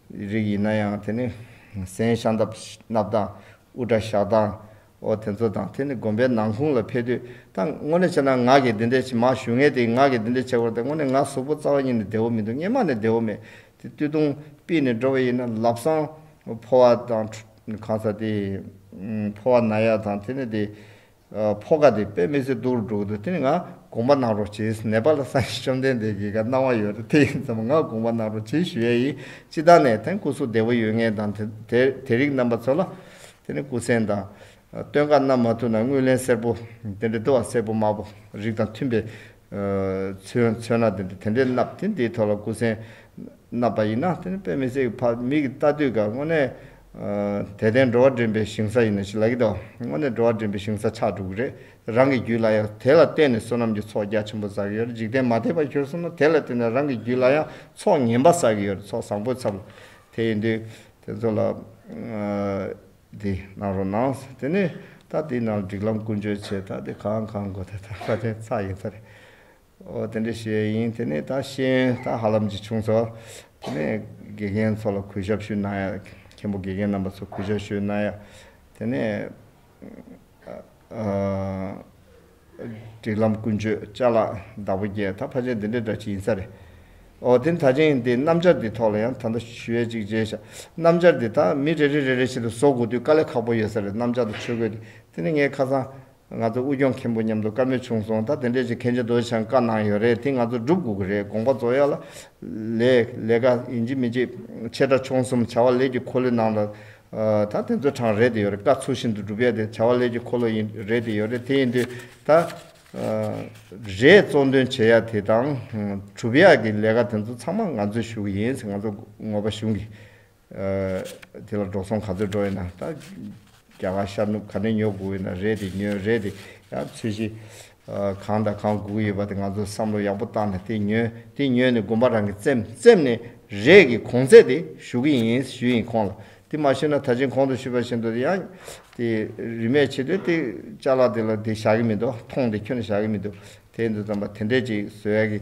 རིགས་ཡིན་ན་ཡང་དེ་ནི་གཟན་ཤ་མནབ་དང་དབུ་སྐྲ་བཞག་དང་འོ་དེ་ཚོ་དང་དེ་ནི་དགོན་པའི་ནང་ཁུང་ལ་ཕེབས་དུས་ད་ངོ་ནས་བྱས་ན་ངག་གིས་འདི་འདྲས་མ་ཞུ་ངས་དེ་ངག་གིས་འདི་འདྲས་བྱས་དགོས་ཏེ་དངོས་ནས་ངག་ཟུག་པོ་རྩ་བ་ཉིད་ནས་བདེ་བོ་མི་འདུག་སྙེ་མ་ནས་བདེ་བོ་མེད་དེ་བཏུད་དུང་པིས་ནས་འགྲོ་བས་ཡིན་ན་ལབ་སང་ཕོ་བ་དང་གང་ཟག་དེ་ཕོ་བ་ན་ཡག་དང་དེ་ནི་དེ་ཕོ་ཁ་དེ་དཔེ་མི་ཚེ་སྡུག་རུ་འགྲོ་གི་འདུག་དེ་ནི་ང་དགོངས་པ་གནང་རོགས་བྱེད་ནེ་པ་ལ་སངས་རྒྱས་བཅོམ་ལྡན་འདས་ཀྱི་ག་གནང་བ་ཡོད་རེད་དེ་ཡིན་ཙམ་ང་དགོངས་པ་གནང་རོགས་བྱེད་ཞུ་ཡ་ཡིན་སྤྱི་དང་ནས་དེང་སྐུ་གཟུགས་བདེ་བོ་ཡོད་ངེས་དང་དེ་རིགས་རྣམ་པ་ཚོ་ལ་དེ་ནི་སྐུ་མཚན་དང། སྟོན་ཁ་བསྣམས་མ་ཐུབ་ན་དངུལ་ལེན་སེར་པོ་དེ་འདྲ་དུ་བ་སེར་པོ་དམར་པོ་རིགས་དང་མཐུན་པའི་ཚོན་ཚོན་སྣ་དེ་འདྲ་དེ་འདྲས་བསྣབས་དེ་འདིའི་ཐོག་ལ་སྐུ་མཚན་རྣམ་པ་ཡིན་ན་དེ་ནི་དཔེ་མི་ཚེ་གི་ཕ་མིག་གི་ལྟ་དུས་སྐབས་དངོས་གནས། དད་ལྡན་འགྲོ་བ་འདྲེན་པའི་ཞིང་ས་ཡིན་ན་ཅི་ལ་ཡིད་དོ། དངོས་གནས་འགྲོ་བ་འདྲེན་པའི་ཞིང་ས་ཆགས་འགྲོ་གི་རེད། རང་གི་རྒྱུད་ལ་ཡང་དེ་ལ་བརྟེན་ནས་བསོད་ནམས་ཀྱི་ཚོགས་རྒྱ་ཆེན་པོ་བསགས་ཀྱི་ཡོད་འཇིག་རྟེན་མ་དད་པ་གྱུར་སོང་ན་དེ་ལ་བརྟེན་ནས་རང་གི་རྒྱུད་ལ་ཡང་ཚོགས་ངན་པ་བསགས་ཀྱི་ཡོད་ཚོགས་བཟང་པོའི་ཚབ་ལ་དེ་ཡིན་དུས་དེ་ཚོ་ལ། འདི་གནང་རོགས་གནང། དེ་ནི་ད་འདི་ནང་སྒྲིག་ལམ་ཀུན་སྤྱོད་ཆེད་ད་འདི་གང་གང་དགོས་ད་ད་ད་དེ་ཚ་ཡིན་ཚ་རེད། ཨོ་དེ་འདྲའི་ཤེས་ཡ་ཡིན་དེ་ནས་ད་ཤེས་ཡོན་ད་ཧ་ལམ་གྱི་བྱུང་ཚོ། དེ་ནས་དགེ་རྒན་ཚོ་ལ་གུས་ཞབས་ཞུས་གནང་ཡ། མཁན་པོ་དགེ་རྒན་རྣམ་པ་ཚོ་གུས་ཞབས་ཞུས་གནང་ཡ། དེ་ནས། སྒྲིག་ལམ་ཀུན་སྤྱོད་བཅའ་ལག་བདག་པོ་བརྒྱད་ད་ཕ་ཆེན་འདི་འདྲའི་འདྲ་གྱི་ཡིན་ས་རེད། ཨོ་དེ་ད་ཆེན་འདི་སྣམ་སྦྱར་འདི་ཐོག་ལ་ཡང་ད་ལྟ་ཞུས་ཡ་གཅིག་མཇལ་བྱ། སྣམ་སྦྱར་འདི་ད་མི་རེ་རེ་རེ་རེ་བཞིན་དུ་བཟོ་དགོས་དུས་དཀའ་ལས་ཁག་པོ་ཡོད་ས་རེད་སྣམ་སྦྱར་དང་ཆོས་གོས་འདི། དེ་ནས་ངའི་ཁ་སང། ང་ཚོ་དབུས་སྐྱོང་མཁན་པོ་མཉམ་དུ་དཀའ་མོས་བྱུང་སོང་ད་དེ་འདྲས་ཀྱི་མཁན་ཆེན་རྡོ་རྗེ་འཆང་བཀའ་གནང་ཡོད་རེད་དེ་ང་ཚོ་སྒྲུབ་དགོས་ཀྱི་རེད་དགོངས་པ་རྫོགས་ཡག་ལ། ལས། ལས་ཀ་ཡིན་གཅིག་མིན་གཅིག། ཆེ་ཕྲ་ཆུང་གསུམ་བྱ་བ་ལས་ཀྱི་འཁོར་ལོའི་ནང་ལ། ད་དེ་ཚོ་གྲངས་རེད་དེ་ཡོད་རེད་བཀའ་ཚུལ་བཞིན་དུ་སྒྲུབ་ཡ་དེ་བྱ་བ་ལས་ཀྱི་འཁོར་ལོ་ཡིན་རེད་དེ་ཡོད་རེད་དེ་ཡིན་དུས་ད། རེད་གཙོ་འདོན་བྱེད་ཡ་དེ་དང། གྲུབ་ཡ་གྱི་ལས་ཀ་དེ་ཚོ་ཚང་མ་ང་ཚོས་ཞུ་གི་ཡིན་ང་ཚོ་ངོ་པ་གཞུང་གི། དེ་ལ་འགྲོ་སོང་ག་ཚོད་འགྲོ་ཡོད་ན་ད། རྒྱ་གར་ཤར་ནུབ་ག་ནས་ཉོ་དགོས་ཡོད་ན་རེད་དེ་ཉོས་རེད་དེ། ཡང་ཚུལ་བཞིན། གང་དང་གང་དགོས་ཀྱི་ཡོད་པ་དེ་ང་ཚོས་བསམ་བློ་ཡག་པོ་བཏང་ནས་དེ་ཉོས་དེ་ཉོས་ནས་དགོན་པ་རང་གིས་བཙེམ་བཙེམ་ནས་རེས་ཀྱི་གོང་ཚད་དེ་ཞུ་གི་ཡིན་ཞུས་ཡིན་ཁོང་ལ་དེ་མ་ཞུས་ན་ད་ཕྱིན་གོང་དུ་ཞུས་པ་བཞིན་དུ་ཡང། དེ་རིན་མེད་བྱེད་དོན་དེ་བཅའ་ལག་དེ་ལ་དེ་བཞག་གི་མི་འདུག་ཐོངས་དེ་ཁྱོན་ན་བཞག་གི་མི་འདུག་དེ་འདུག་ཙམ་པ་དེ་འདྲས་ཅིག་བཟོས་ཡག་གི།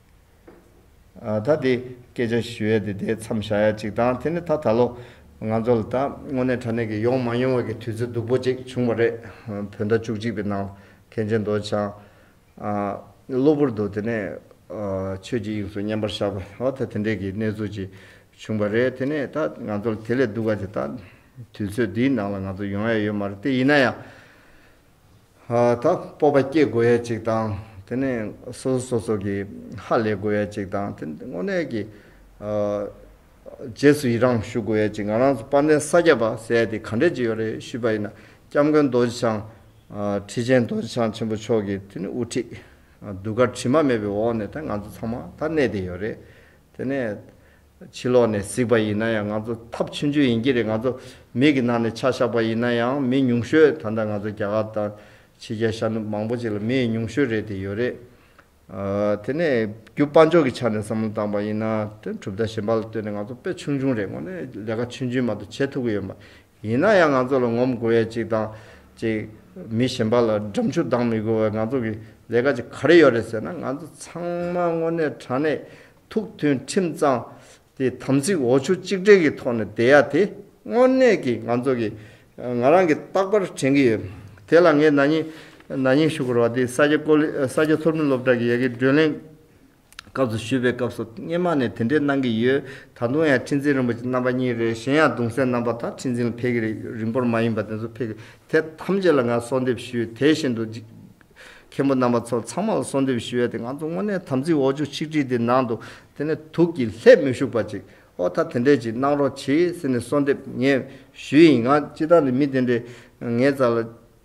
ད་དེ་སྐད་ཆ་ཞུ་ཡ་དེ་དེ་མཚམས་བཞག་ཡ་གཅིག་དང་དེ་ནི་ད་ད་ལོ་ང་ཚོ་ལ་ད་དངོས་གནས་དྲ་གནས་ཀྱི་ཡོང་མ་ཡོང་བ་ཀྱི་དུས་ཚོད་སྡུག་པོ་གཅིག་བྱུང་བ་རེད། བོད་ཟླ་བཅུ་གཅིག་པའི་ནང་མཁན་ཆེན་མདོ་བྱང་གློ་བུར་དུ་དེ་ནས་ཆོས་ཀྱི་དབྱིངས་སུ་མཉམ་པར་བཞག་པ་ད་དེ་འདྲས་ཀྱི་གནས་ཚུལ་གཅིག་བྱུང་བ་རེད་དེ་ནི་ད་ང་ཚོ་ལ་དེ་ལས་སྡུག་ག་དེ་ད་དུས་ཚོད་འདིའི་ནང་ལ་ང་ཚོ་ཡོང་ཡ་ཡོད་མ་རེད་དེ་ཡིན་ན་ཡང། ད་སྤོབས་པ་སྐྱེ་དགོས་ཡས་ཅིག་དང་དེ་ནས་སོ་སོ་སོ་སོ་གི་ཧ་ལས་དགོས་ཡས་ཅིག་དང་དེ་དངོས་གནས་ཀྱི་རྗེས་སུ་ཡི་རངས་ཞུ་དགོས་ཡས་ཅིག་ང་རང་ཚོ་དཔལ་ལྡན་ས་སྐྱ་པ་ཟས་དེ་ག་འདྲས་ཅིག་ཡོད་རེད་ཞུས་པ་ཡིན་ན་སྐྱབས་མགོན་རྡོ་རྗེ་འཆང་ཁྲི་ཆེན་རྡོ་རྗེ་འཆང་ཆེན་པོ་མཆོག་གིས་དེ་ནས་དབུ་ཁྲིད་གདུགས་དཀར་དྲི་མ་མེད་པའི་འོག་ནས་ད་ང་ཚོ་ཚང་མ་ད་གནས་དེ་ཡོད་རེད་དེ་ནས་ཕྱི་ལོགས་ནས་གཟིགས་པ་ཡིན་ན་ཡང་ང་ཚོ་ཐབས་ཆུང་ཆུང་ཡིན་གྱི་རེད་ང་ཚོ་མིག་གི་ནང་ནས་ཆ་བཞག་པ་ཡིན་ན་ཡང་མི་ཉུང་ཤོས་ད་ལྟ་ང་ཚོ་རྒྱ་གར་དང་ཕྱི་རྒྱལ་ཤར་ནུབ་མང་པོ་ཅིག་ལ་མི་ཉུང་ཤོས་རེད་དེ་ཡོད་རེད། དེ་ནས་རྒྱུ་དཔའ་འཇོག་གི་ཆ་ནས་བསམ་བློ་བཏང་པ་ཡིན་ན་དོན་གྲུབ་དང་གཞན་པ་ལ་ལྟོས་ནས་ང་ཚོ་དཔེ་ཆུང་ཆུང་རེད་དངོས་ནས་ལས་ཀ་ཆུན་ཆུན་མ་གཏོགས་བྱེད་ཐུབ་ཀྱི་ཡོད་མ་རེད་ཡིན་ན་ཡང་ང་ཚོ་ལ་ངོམ་དགོས་ཡས་ཅིག་དང་ཅིག་མི་གཞན་པ་ལ་འགྲམ་ཆུ་ལྡང་མི་དགོས་བས་ང་ཚོ་གི་ལས་ཀ་ཅིག་ག་རེ་ཡོད་རེད་ཟེར་ན་ང་ཚོ་ཚང་མ་དངོས་གནས་དྲང་གནས་ཐུགས་མཐུན་ཁྲིམས་གཙང་དེ་དམ་ཚིག་འོ་ཆུ་གཅིག་འདྲེས་ཀྱི་ཐོག་ནས་བསྡད་ཡ་དེ་དངོས་གནས་ཀྱི་ང་ཚོ་གི་ང་རང་གི་རྟག་པར་དྲན་གྱི་ཡོད། དེ་ལ་ངས་ན་ནིང་ན་ནིང་ཞུ་སྒོར་བ་དེ་ས་སྐྱ་ཀོ་ལེ་ས་སྐྱ་མཐོ་རིམ་སློབ་གྲྭ་གི་ཡལ་གའི་བགྲོད་ལེན་སྐབས་སུ་ཞུས་པའི་སྐབས་སུ་སྙེ་མ་ནས་དེ་འདྲས་གནང་གི་ཡོད་ད་དུང་ཡང་ཁྲི་འཛིན་རིན་པོ་ཆེ་རྣམ་པ་གཉིས་རེ་གཞན་ཡང་གདུང་སྲས་རྣམ་པ་དང་ཁྲི་འཛིན་ལ་ཕེབས་ཀྱི་རེད་རིང་པོར་མ་ཡིན་པ་དེ་ཚོ་ཕེབས་ཀྱི་དེ་ཐམས་ཅད་ལ་ང་གསོལ་འདེབས་ཞུས་དེ་བཞིན་དུ་མཁན་པོ་རྣམ་པ་ཚོ་ཚང་མ་ལ་གསོལ་འདེབས་ཞུ་ཡ་དེ་ང་ཚོ་དངོས་གནས་དམ་ཚིག་འོ་ཆུ་ཆིག་ཁྲི་དེ་ནང་དུ་དེ་ནས་དུག་གི་ལྷད་མི་ཞུགས་པ་ཅིག་ཨོ་ད་དེ་འདྲས་ཅིག་གནང་རོགས་གྱིས་ཟེར་ནས་གསོལ་འདེབས་ངས་ཞུས་ཡིན་ང་སྤྱི་བདག་ནས་མི་དེ་འདྲས་ངའི་རྩ་ལ་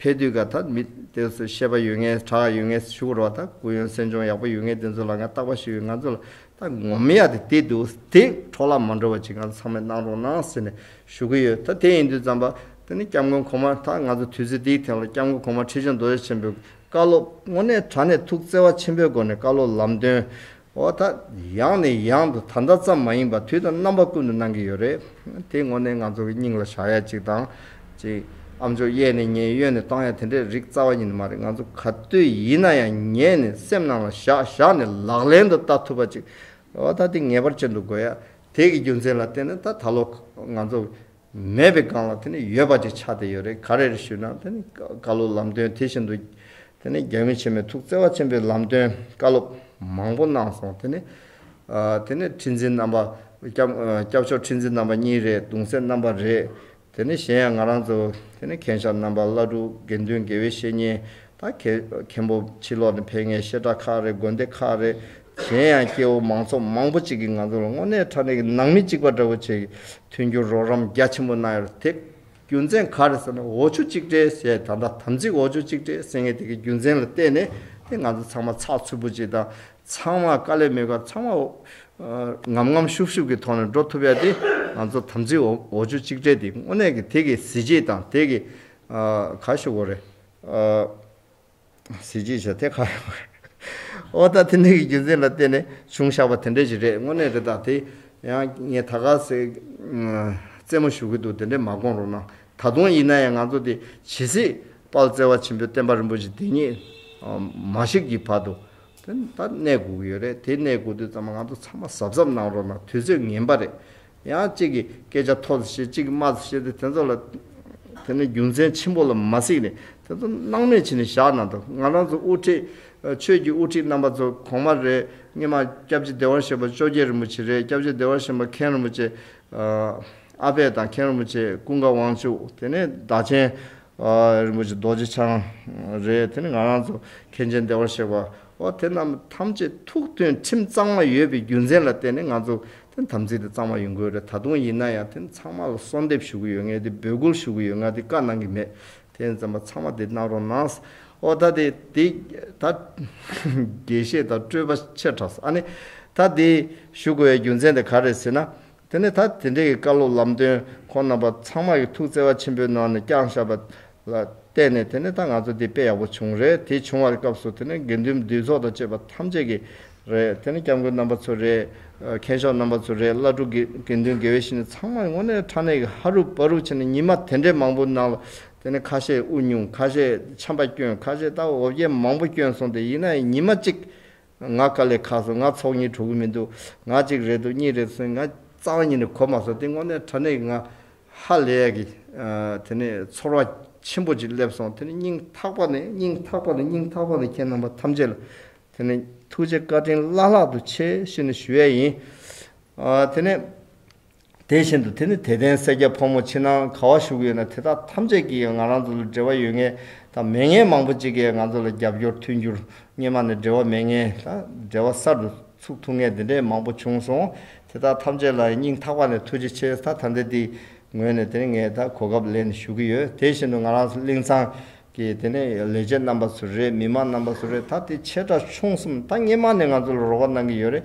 ཕེབས་དུས་ག་ད་མི་དེ་ཚོ་ཤེས་པ་ཡོད་ངེས་གྲགས་ཡོད་ངེས་ཞུ་གོ་རོགས་ད་གུ་ཡོན་སེམས་ཆུང་ཡག་པོ་ཡོད་ངེས་དེ་ཚོ་ལ་ང་རྟག་པ་ཞུས་ཡོད་ང་ཚོ་ལ་ད་ངོ་མ་ཡག་དེ་དེ་འདུག་དེ་འཕྲོ་བརླག་མ་འགྲོ་བ་ཅི་གང་ཚང་མས་གནང་རོགས་གནང་ཟེར་ནས་ཞུ་གི་ཡོད་ད་དེ་ཡིན་དུས་རྩམ་པ་དེ་ནི་སྐྱབས་མགོན་གོང་མ་ད་ང་ཚོ་དུས་ཚོད་འདིའི་ཐེངས་ལ་སྐྱབས་མགོན་གོང་མ་ཁྲི་བྱོན་རྡོ་རྗེ་ཆེན་པོའི་བཀའ་སློབ། དངོས་གནས་དྲ་གནས་ཐུགས་བརྩེ་བ་ཆེན་པོའི་སྒོ་ནས་བཀའ་སློབ་ལམ་སྟོན། འོ་ད་ཡང་ནས་ཡང་དུ་ད་ལྟ་ཙམ་མ་ཡིན་པར་དུས་དང་རྣམ་པ་ཀུན་ཏུ་གནང་གི་ཡོད་རེད་དེ་དངོས་གནས་ང་ཚོ་གི་སྙིང་ལ་བཞག་ཡ་གཅིག་དང་ཅིག། ཨ་མཆོག་གཡས་ནས་ཉལ་གཡོན་ནས་བཏང་ཡ་དེ་འདྲའི་རིགས་རྩ་བ་ཉིད་མ་རེད་ང་ཚོ་ག་དུས་ཡིན་ན་ཡང་ཉལ་ནས་སེམས་ནང་ལ་བཞག་བཞག་ནས་ལག་ལེན་དུ་བསྟར་ཐུབ་པ་ཅིག་ཨོ་ད་དེ་ངེས་པར་བྱེད་འདུག་དགོས་ཡ་དེ་གི་རྒྱུ་མཚན་ལ་བལྟས་ན་ད་ད་ལོ་ང་ཚོ་མེད་པའི་སྒང་ལ་དེ་ནི་ཡོད་པ་ཅིག་ཆགས་བསྡད་ཡོད་རེད་ག་རེར་ཞུས་ན་དེ་ནི་བཀའ་སློབ་ལམ་སྟོན་དེ་བཞིན་དུ་དེ་ནི་རྒྱལ་བུ་ཆེན་མོའི་ཐུགས་བརྩེ་བ་ཆེན་པོའི་ལམ་སྟོན་བཀའ་སློབ་མང་པོ་གནང་སོང་དེ་ནི་དེ་ནི་ཁྲི་འཛིན་རྣམ་པ་སྐྱབས་མཆོག་ཁྲི་འཛིན་རྣམ་པ་གཉིས་རེད་གདུང་སྲས་རྣམ་པ་རེད། དེ་ནི་གཞན་ཡང་ང་རང་ཚོ་དེ་ནི་གན་ཤར་རྣམ་པ་བླ་སྤྲུལ་དགེ་འདུན་དགེ་བའི་བཤེས་གཉེན་ད་གེ་མཁན་པོ་ཕྱི་ལོགས་ནས་ཕེབས་ངེས་བཤད་གྲྭ་ཁག་རེད་དགོན་སྡེ་ཁག་རེད་གཞན་ཡང་སྐྱེ་བོ་མང་ཚོགས་མང་པོ་ཅིག་གིས་ང་ཚོ་ལ་དངོས་གནས་ཕྲ་ནས་ནང་མི་གཅིག་པ་འདྲ་བོ་བྱེད་མཐུན་རྒྱུར་རོགས་རམ་རྒྱ་ཆེན་པོ་གནང་ཡོད་རེད་དེ་རྒྱུ་མཚན་ག་རེད་ཟེར་ན་འོ་ཆུ་གཅིག་སྤྲད་ཟེར་ད་ལྟ་དམ་ཚིག་འོ་ཆུ་གཅིག་སྤྲད་ཟེར་ངེས་དེ་གའི་རྒྱུ་མཚན་ལ་བལྟས་ནས་དེ་ང་ཚོ་ཚང་མ་ཚགས་ཚུད་པོ་ཅིག་དང། ཚང་མ་དཀའ་ལས་མེད་པར་ཚང་མ་ངམ་ངམ་ཤུགས་ཤུགས་ཀྱི་ཐོག་ནས་འགྲོ་ཐུབ་ཡ་དེ་ང་ཚོ་དམ་ཚིག་འོ་ཆུ་གཅིག་སྦྲེལ་དེ་དངོས་གནས་ཀྱི་དེ་གི་གཟི་བརྗིད་དང་དེ་གི་ག་ཞུ་གོ་རེ། གཟི་བརྗིད་བྱ་དེ་ག་ཡོང་གོ་རེ། ཨོ་ད་དེ་འདྲ་གི་རྒྱུ་མཚན་ལ་བརྟེན་ནས་བྱུང་བཞག་པ་དེ་འདྲ་ཞིག་རེད་དངོས་གནས་དེ་དང་དེ་ཡང་ངས་ད་ག་ཟེ་རྩེད་མོ་ཞུ་གི་འདུག་དེ་འདྲས་མ་དགོངས་རོགས་གནང་ད་དུང་ཡིན་ན་ཡང་ང་ཚོ་དེ་ཇི་སྲིད་དཔལ་བརྩེ་བ་ཆེན་པོའི་བསྟན་པ་རིན་པོ་ཆེ་འདི་ཉིད་མ་ཤིག་གི་བར་དུ་དེ་ད་གནས་སྒུག་ཡོད་རེད་དེ་གནས་སྒུག་དུས་ཙམ་ང་ཚོ་ཚང་མ་གཟབ་གཟབ་གནང་རོགས་གནང་དུས་ཚོད་ངན་པ་རེད། ཡང་གཅིག་གིས་སྐད་ཆ་མཐོ་སུ་བཤད་གཅིག་གིས་དམའ་སུ་བཤད་དེ་དེ་ཚོ་ལ། དེ་ནི་རྒྱུ་མཚན་ཆེན་པོ་ལ་མ་གཟིགས་ནས་དེ་ཚོ་སྣང་མེད་བྱས་ནས་བཞག་གནང་ཐུབ་ང་རང་ཚོ་དབུ་ཁྲིད། ཆོས་ཀྱི་དབུ་ཁྲིད་རྣམ་པ་ཚོ་གོང་མ་རེད་སྙེ་མ་སྐྱབས་རྗེ་བདེ་བར་གཤེགས་པ་བཅོ་བརྒྱད་རིན་པོ་ཆེ་རེད་སྐྱབས་རྗེ་བདེ་བར་གཤེགས་པ་མཁན་རིན་པོ་ཆེ། ཨ་ཕས་དང་མཁན་རིན་པོ་ཆེ་ཀུན་དགའ་དབང་ཕྱུག་དེ་ནས་བདག་ཆེན། རིན་པོ་ཆེ་རྡོ་རྗེ་འཆང་རེད་དེ་ནི་ང་རང་ཚོ་མཁན་ཆེན་བདེ་བར་གཤེགས་པ་འོ་དེ་རྣམས་ཐམས་ཅད་ཐུགས་མཐུན་ཁྲིམས་གཙང་མ་ཡོད་པའི་རྒྱུ་མཚན་ལ་བརྟེན་ནས་ང་ཚོ་དེ་དམ་ཚིག་དེ་གཙང་མ་ཡིན་དགོས་རེད་ད་དུང་ཡིན་ན་ཡང་དེ་ཚང་མ་ལ་གསོལ་འདེབས་ཞུ་གི་ཡོད་ངས་དེ་འབོད་སྐུལ་ཞུ་གི་ཡོད་ང་དེ་བཀའ་གནང་གི་མེད་དེ་ཡིན་ཙམ་པ་ཚང་མ་དེ་གནང་རོགས་གནང་འོ་ད་དེ་དེ་ད་དགེ་བཤེས་དང་སྤྲུལ་པ་ཆེར་གྲགས་སོ་ཨ་ནི་ད་དེ་ཞུ་དགོས་བའི་རྒྱུ་མཚན་དེ་ག་རེད་ཟེར་ན་དེ་ནས་ད་དེ་འབྲེལ་གྱི་བཀའ་སློབ་ལམ་སྟོན་ཁོང་རྣམ་པ་ཚང་མ་གི་ཐུགས་བརྩེ་བ་ཆེན་པོའི་ནང་ནས་བསྐྱངས་བཞག་པ་ལ་བརྟེན་ནས་དེ་ནས་ད་ང་ཚོ་འདི་དཔེ་ཡག་པོ་བྱུང་རེད་དེ་བྱུང་བར་སྐབས་སུ་དེ་ནས་དགེ་འདུན་འདུས་ཚོགས་དང་བཅས་པ་ཐམས་ཅད་ཀྱི་རེད་དེ་ནས་སྐྱབས་མགོན་རྣམ་པ་ཚོ་རེད་མཁན་ཤོག་རྣམ་པ་ཚོ་རེད་བླ་སྤྲུལ་དགེ་འདུན་དགེ་བའི་བཤེས་གཉེན་ཚང་མ་དངོས་གནས་ཕྲ་གནས་ཀྱི་ཧ་རུ་པ་རུ་བྱས་ནས་ཉིན་མ་དེ་འདྲའི་མང་པོ་ནང་ལ་དེ་ནས་ཁ་ཤས་དབུ་བསྙུང་ཁ་ཤས་ཆམ་པ་བསྐྱོན་ཁ་ཤས་ལྟ་བ་འོ་བརྒྱལ་མང་པོ་བསྐྱོན་སོང་སྟེ་ཡིན་ནའི་ཉིན་མ་གཅིག་ང་དཀའ་ལས་ཁག་སོང་ང་ཚོགས་གཉིས་གྲོལ་གི་མི་འདུག་ང་གཅིག་རེད་འདུག་གཉིས་རེད་སོང་ང་རྩ་བ་ཉིད་ནས་གོ་མ་སོང་དེ་སྔོན་ནས་དྲ་གནས་ཀྱི་ང་ཧ་ལས་ཀྱི་དེ་ནས་ཚོར་བ་ཆེན་པོ་ཅིག་སླེབས་སོང་དེ་ནས་སྙིང་ཐག་པ་ནས་སྙིང་ཐག་པ་ནས་སྙིང་ཐག་པ་ནས་ཁྱེད་རྣམ་པ་ཐམས་ཅད་ལ་དེ་ནས་ཐུགས་རྗེ་བཀའ་དྲིན་བླ་ལྷག་ཏུ་ཆེ་ཞེས་ནས་ཞུ་ཡས་ཡིན། དེ་ནས། དེ་བཞིན་དུ་དེ་ནི་དད་ལྡན་སེར་སྐྱ་ཕོ་མོ་ཕྱི་ནང་ག་བ་བཞུགས་ཡོད་ན་དེ་དག་ཐམས་ཅད་ཀྱིས་ཡང་ང་རང་ཚོ་ལ་འབྲེལ་བ་ཡོད་ངེས་དང་མེད་ངེས་མང་པོ་ཅིག་གིས་ང་ཚོ་ལ་རྒྱབ་སྐྱོར་མཐུན་འགྱུར་སྙེ་མ་ནས་འབྲེལ་བ་མེད་ངེས་དང་འབྲེལ་བ་གསར་དུ་ཚུགས་ཐུབ་ངེས་དེ་འདྲའི་མང་པོ་བྱུང་སོང་དེ་དག་ཐམས་ཅད་ལ་སྙིང་ཐག་པ་ནས་ཐུགས་རྗེ་ཆེ་ད་ལྟ་འདི་ངོས་ནས་དེ་ནི་ངས་ད་གོ་སྐབས་ལེན་ཞུ་གི་ཡོད་དེ་བཞིན་དུ་ང་རང་གླིང་ཚང་ཀྱི་དེ་ནས་ལས་བྱེད་རྣམ་པ་ཚོ་རེད་མི་མང་རྣམ་པ་ཚོ་རེད་ད་དེ་ཆེ་ཕྲ་ཆུང་གསུམ་ད་སྙེ་མ་ནས་ང་ཚོ་ལ་རོགས་པ་གནང་གི་ཡོད་རེད་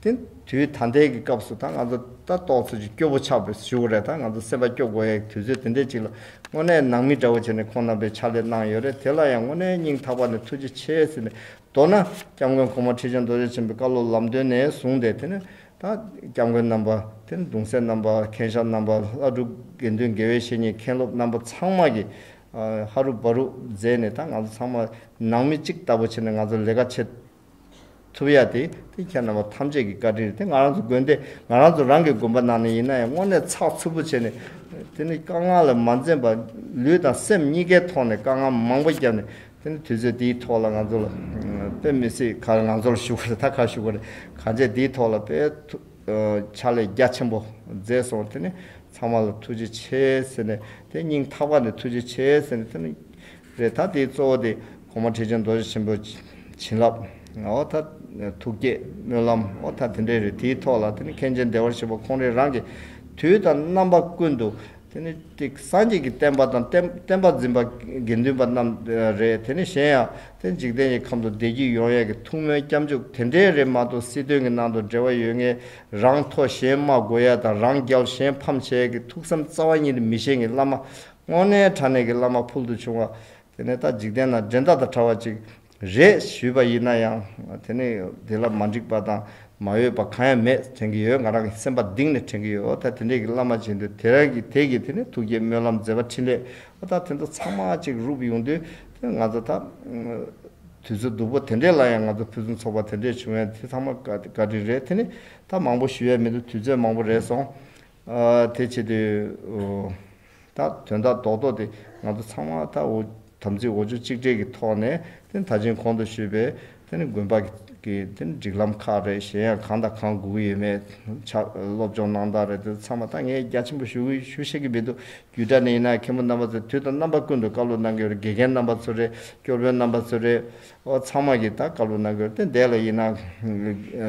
དེ། དུས་ད་ལྟའི་གི་སྐབས་སུ་ད་ང་ཚོ་ད་ལྟོགས་ཚོད་ཀྱི་སྐྱོ་བོ་ཆགས་པའི་བཞུགས་རེད་ད་ང་ཚོ་སེམས་པ་སྐྱོ་དགོས་ཡའི་དུས་ཚོད་དེ་འདྲའི་ཅིག་ལ་དངོས་གནས་ནང་མི་འདྲ་བོ་བྱས་ནས་ཁོང་རྣམ་པའི་ཕྱག་ལས་གནང་ཡོད་རེད་དེ་ལ་ཡང་དངོས་གནས་སྙིང་ཐག་པ་ནས་ཐུགས་རྗེ་ཆེ་ཟེར་ནས་མདོར་ན་སྐྱབས་མགོན་གོང་མ་ཁྲི་བྱང་རྡོ་རྗེ་ཆེན་པོའི་བཀའ་སློབ་ལམ་སྟོན་ནས་བཟུང་སྟེ་དེ་ནས་ད་སྐྱབས་མགོན་རྣམ་པ་དེ་ནས་གདུང་སྲས་རྣམ་པ་མཁན་ཤར་རྣམ་པ་ལྷ་སྒྲུབ་དགེ་འདུན་དགེ་བའི་བཤེས་གཉེན་མཁན་སློབ་རྣམ་པ་ཚང་མ་གི་ཧ་རུ་བ་རུ་མཛད་ནས་ད་ང་ཚོ་ཚང་མ་ནང་མི་གཅིག་ལྟ་བུ་བྱས་ནས་ང་ཚོ་ལས་ཀ་བྱེད་ཐུབ་ཡ་དེ་དེ་ཁྱེད་རྣམ་པ་ཐམས་ཅད་ཀྱི་བཀའ་དྲིན་རེད་དེ་ང་རང་ཚོ་དགོན་སྡེ་ང་རང་ཚོ་རང་གི་དགོན་པ་ནང་ནས་ཡིན་ན་ཡང་དངོས་གནས་ཚགས་ཚུད་པོ་བྱས་ནས་དེ་ནི་དཀའ་ངལ་ལ་མ་འཛེམས་པ་ལུས་དང་སེམས་གཉིས་ཀའི་ཐོག་ནས་དཀའ་ངལ་མང་པོ་བརྒྱབ་ནས་དེ་ནི་དུས་ཚོད་དེའི་ཐོག་ལ་ང་ཚོ་ལ་དཔེ་མི་སྲིད་ཁར་ང་ཚོར་ཞུ་ག་རེ་ད་ག་ཞུ་ག་རེ་གང་བྱས་དེའི་ཐོག་ལ་དཔེ་ཐུག། ཕྱག་ལས་རྒྱ་ཆེན་པོ་མཛད་སོང་དེ་ནས་ཚང་མ་ལ་ཐུགས་རྗེ་ཆེ་ཟེར་ནས་དེ་སྙིང་ཐག་པ་ནས་ཐུགས་རྗེ་ཆེ་ཟེར་ནས་དེ་ནས་རེད་ད་དེའི་གཙོ་བོ་དེ་གོང་མ་ཁྲི་ཆེན་རྡོ་རྗེ་ཆེན་པོ་བྱིན་རླབས་འོ་ད་ཐུགས་བསྐྱེད་སྨོན་ལམ་འོ་ད་དེ་འདྲས་རེད་དེའི་ཐོག་ལ་དེ་ནས་མཁན་ཆེན་བདེ་བར་གཤེགས་པ་ཁོང་རེ་རང་གིས་དུས་དང་རྣམ་པ་ཀུན་ཏུ་དེ་ནི་ཏིག་སངས་རྒྱས་ཀྱི་བསྟན་པ་དང་བསྟན་པ་འཛིན་པ་དགེ་འདུན་པ་རྣམས་རེད་དེ་ནི་གཞན་ཡང་དེ་འཇིག་རྟེན་གྱི་ཁམས་དུ་བདེ་སྐྱིད་ཡོང་ཡས་ཀྱི་ཐུགས་སྨོན་སྐྱབས་འཇུག་དེ་འདྲའི་རེད་མ་གཏོགས་སྲིད་དོན་གྱི་ནང་དུ་འབྲེལ་བ་ཡོད་ངེས་རང་མཐོ་གཞན་དམའ་དགོས་ཡས་དང་རང་རྒྱལ་གཞན་ཕམ་བྱས་ཡས་ཀྱི་ཐུགས་བསམ་རྩ་བ་ཉིད་མི་ཤེས་ངེས་བླ་མ་སྔོན་གནས་དྲ་གནས་ཀྱི་བླ་མ་ཕུལ་དུ་བྱུང་བ་དེ་ནས་ད་འཇིག་རྟེན་ན་འགྲན་ཟླ་དང་དྲ་བ་ཅིག་རེད་ཞུས་པ་ཡིན་ན་ཡང་དེ་ནི་དེ་ལ་མ་འགྲིག་པ་དང་མ་འོས་པ་གང་ཡང་མེད་དྲན་གྱི་ཡོད་ང་རང་གི་སེམས་པ་གདིང་ནས་དྲན་གྱི་ཡོད་འོ་ད་དེ་འདྲས་ཀྱི་བླ་མ་བྱེད་འདོད་དེ་རང་གི་དེ་གི་དེ་ནས་ཐུགས་བསྐྱེད་སྨོན་ལམ་མཛད་པ་འཕྲིན་ལས་འོ་ད་དེ་ཚོ་ཚང་མ་གཅིག་རུབ་ཡོང་དུས་དེ་ང་ཚོ་ད་དུས་ཚོད་སྡུག་པོ་དེ་འདྲས་ལ་ཡང་ང་ཚོ་ཕུན་སུམ་ཚོགས་པ་དེ་འདྲས་བྱུང་བས་དེ་ཚང་མ་བཀའ་དྲིན་རེད་དེ་ནི་ད་མང་པོ་ཞུ་ཡས་མི་འདུག་དུས་ཚོད་མང་པོ་རེད་སོང་དེ་བྱེད་དུས། ད་དོན་དག་རྡོག་རྡོག་དེ་ང་ཚོ་ཚང་མ་ད་འུ་དམ་ཚིག་འོ་ཆུ་གཅིག་སྒྲིལ་གྱི་ཐོག་ནས་དེ་ད་ཕྱིན་གོང་དུ་ཞུས་པའི་དེ་དགོན་པ་གི་དེ་སྒྲིག་ལམ་ཁག་རེད་གཞན་ཡང་གང་དང་གང་སྒུག་གི་ཡོད་མེད་ཆ་སློབ་སྦྱོང་གནང་སྟངས་རེད་དེ་ཚང་མ་ད་ངས་རྒྱ་ཆེན་པོ་ཞུ་ཞུ་ཤེས་ཀྱི་མི་འདུག་རྒྱུས་སྒྲ་ནི་ཡིན་ན་མཁན་པོ་རྣམ་པ་ཚོས་དུས་དང་རྣམ་པ་ཀུན་ཏུ་བཀའ་སློབ་གནང་གི་ཡོད་རེད་དགེ་རྒན་རྣམ་པ་ཚོ་རེད་སྐྱོར་དཔོན་རྣམ་པ་ཚོ་རེད། ཚང་མ་གྱིས་ད་བཀའ་སློབ་གནང་གི་ཡོད་དེ་འདས་ལ་ཡིན་ན།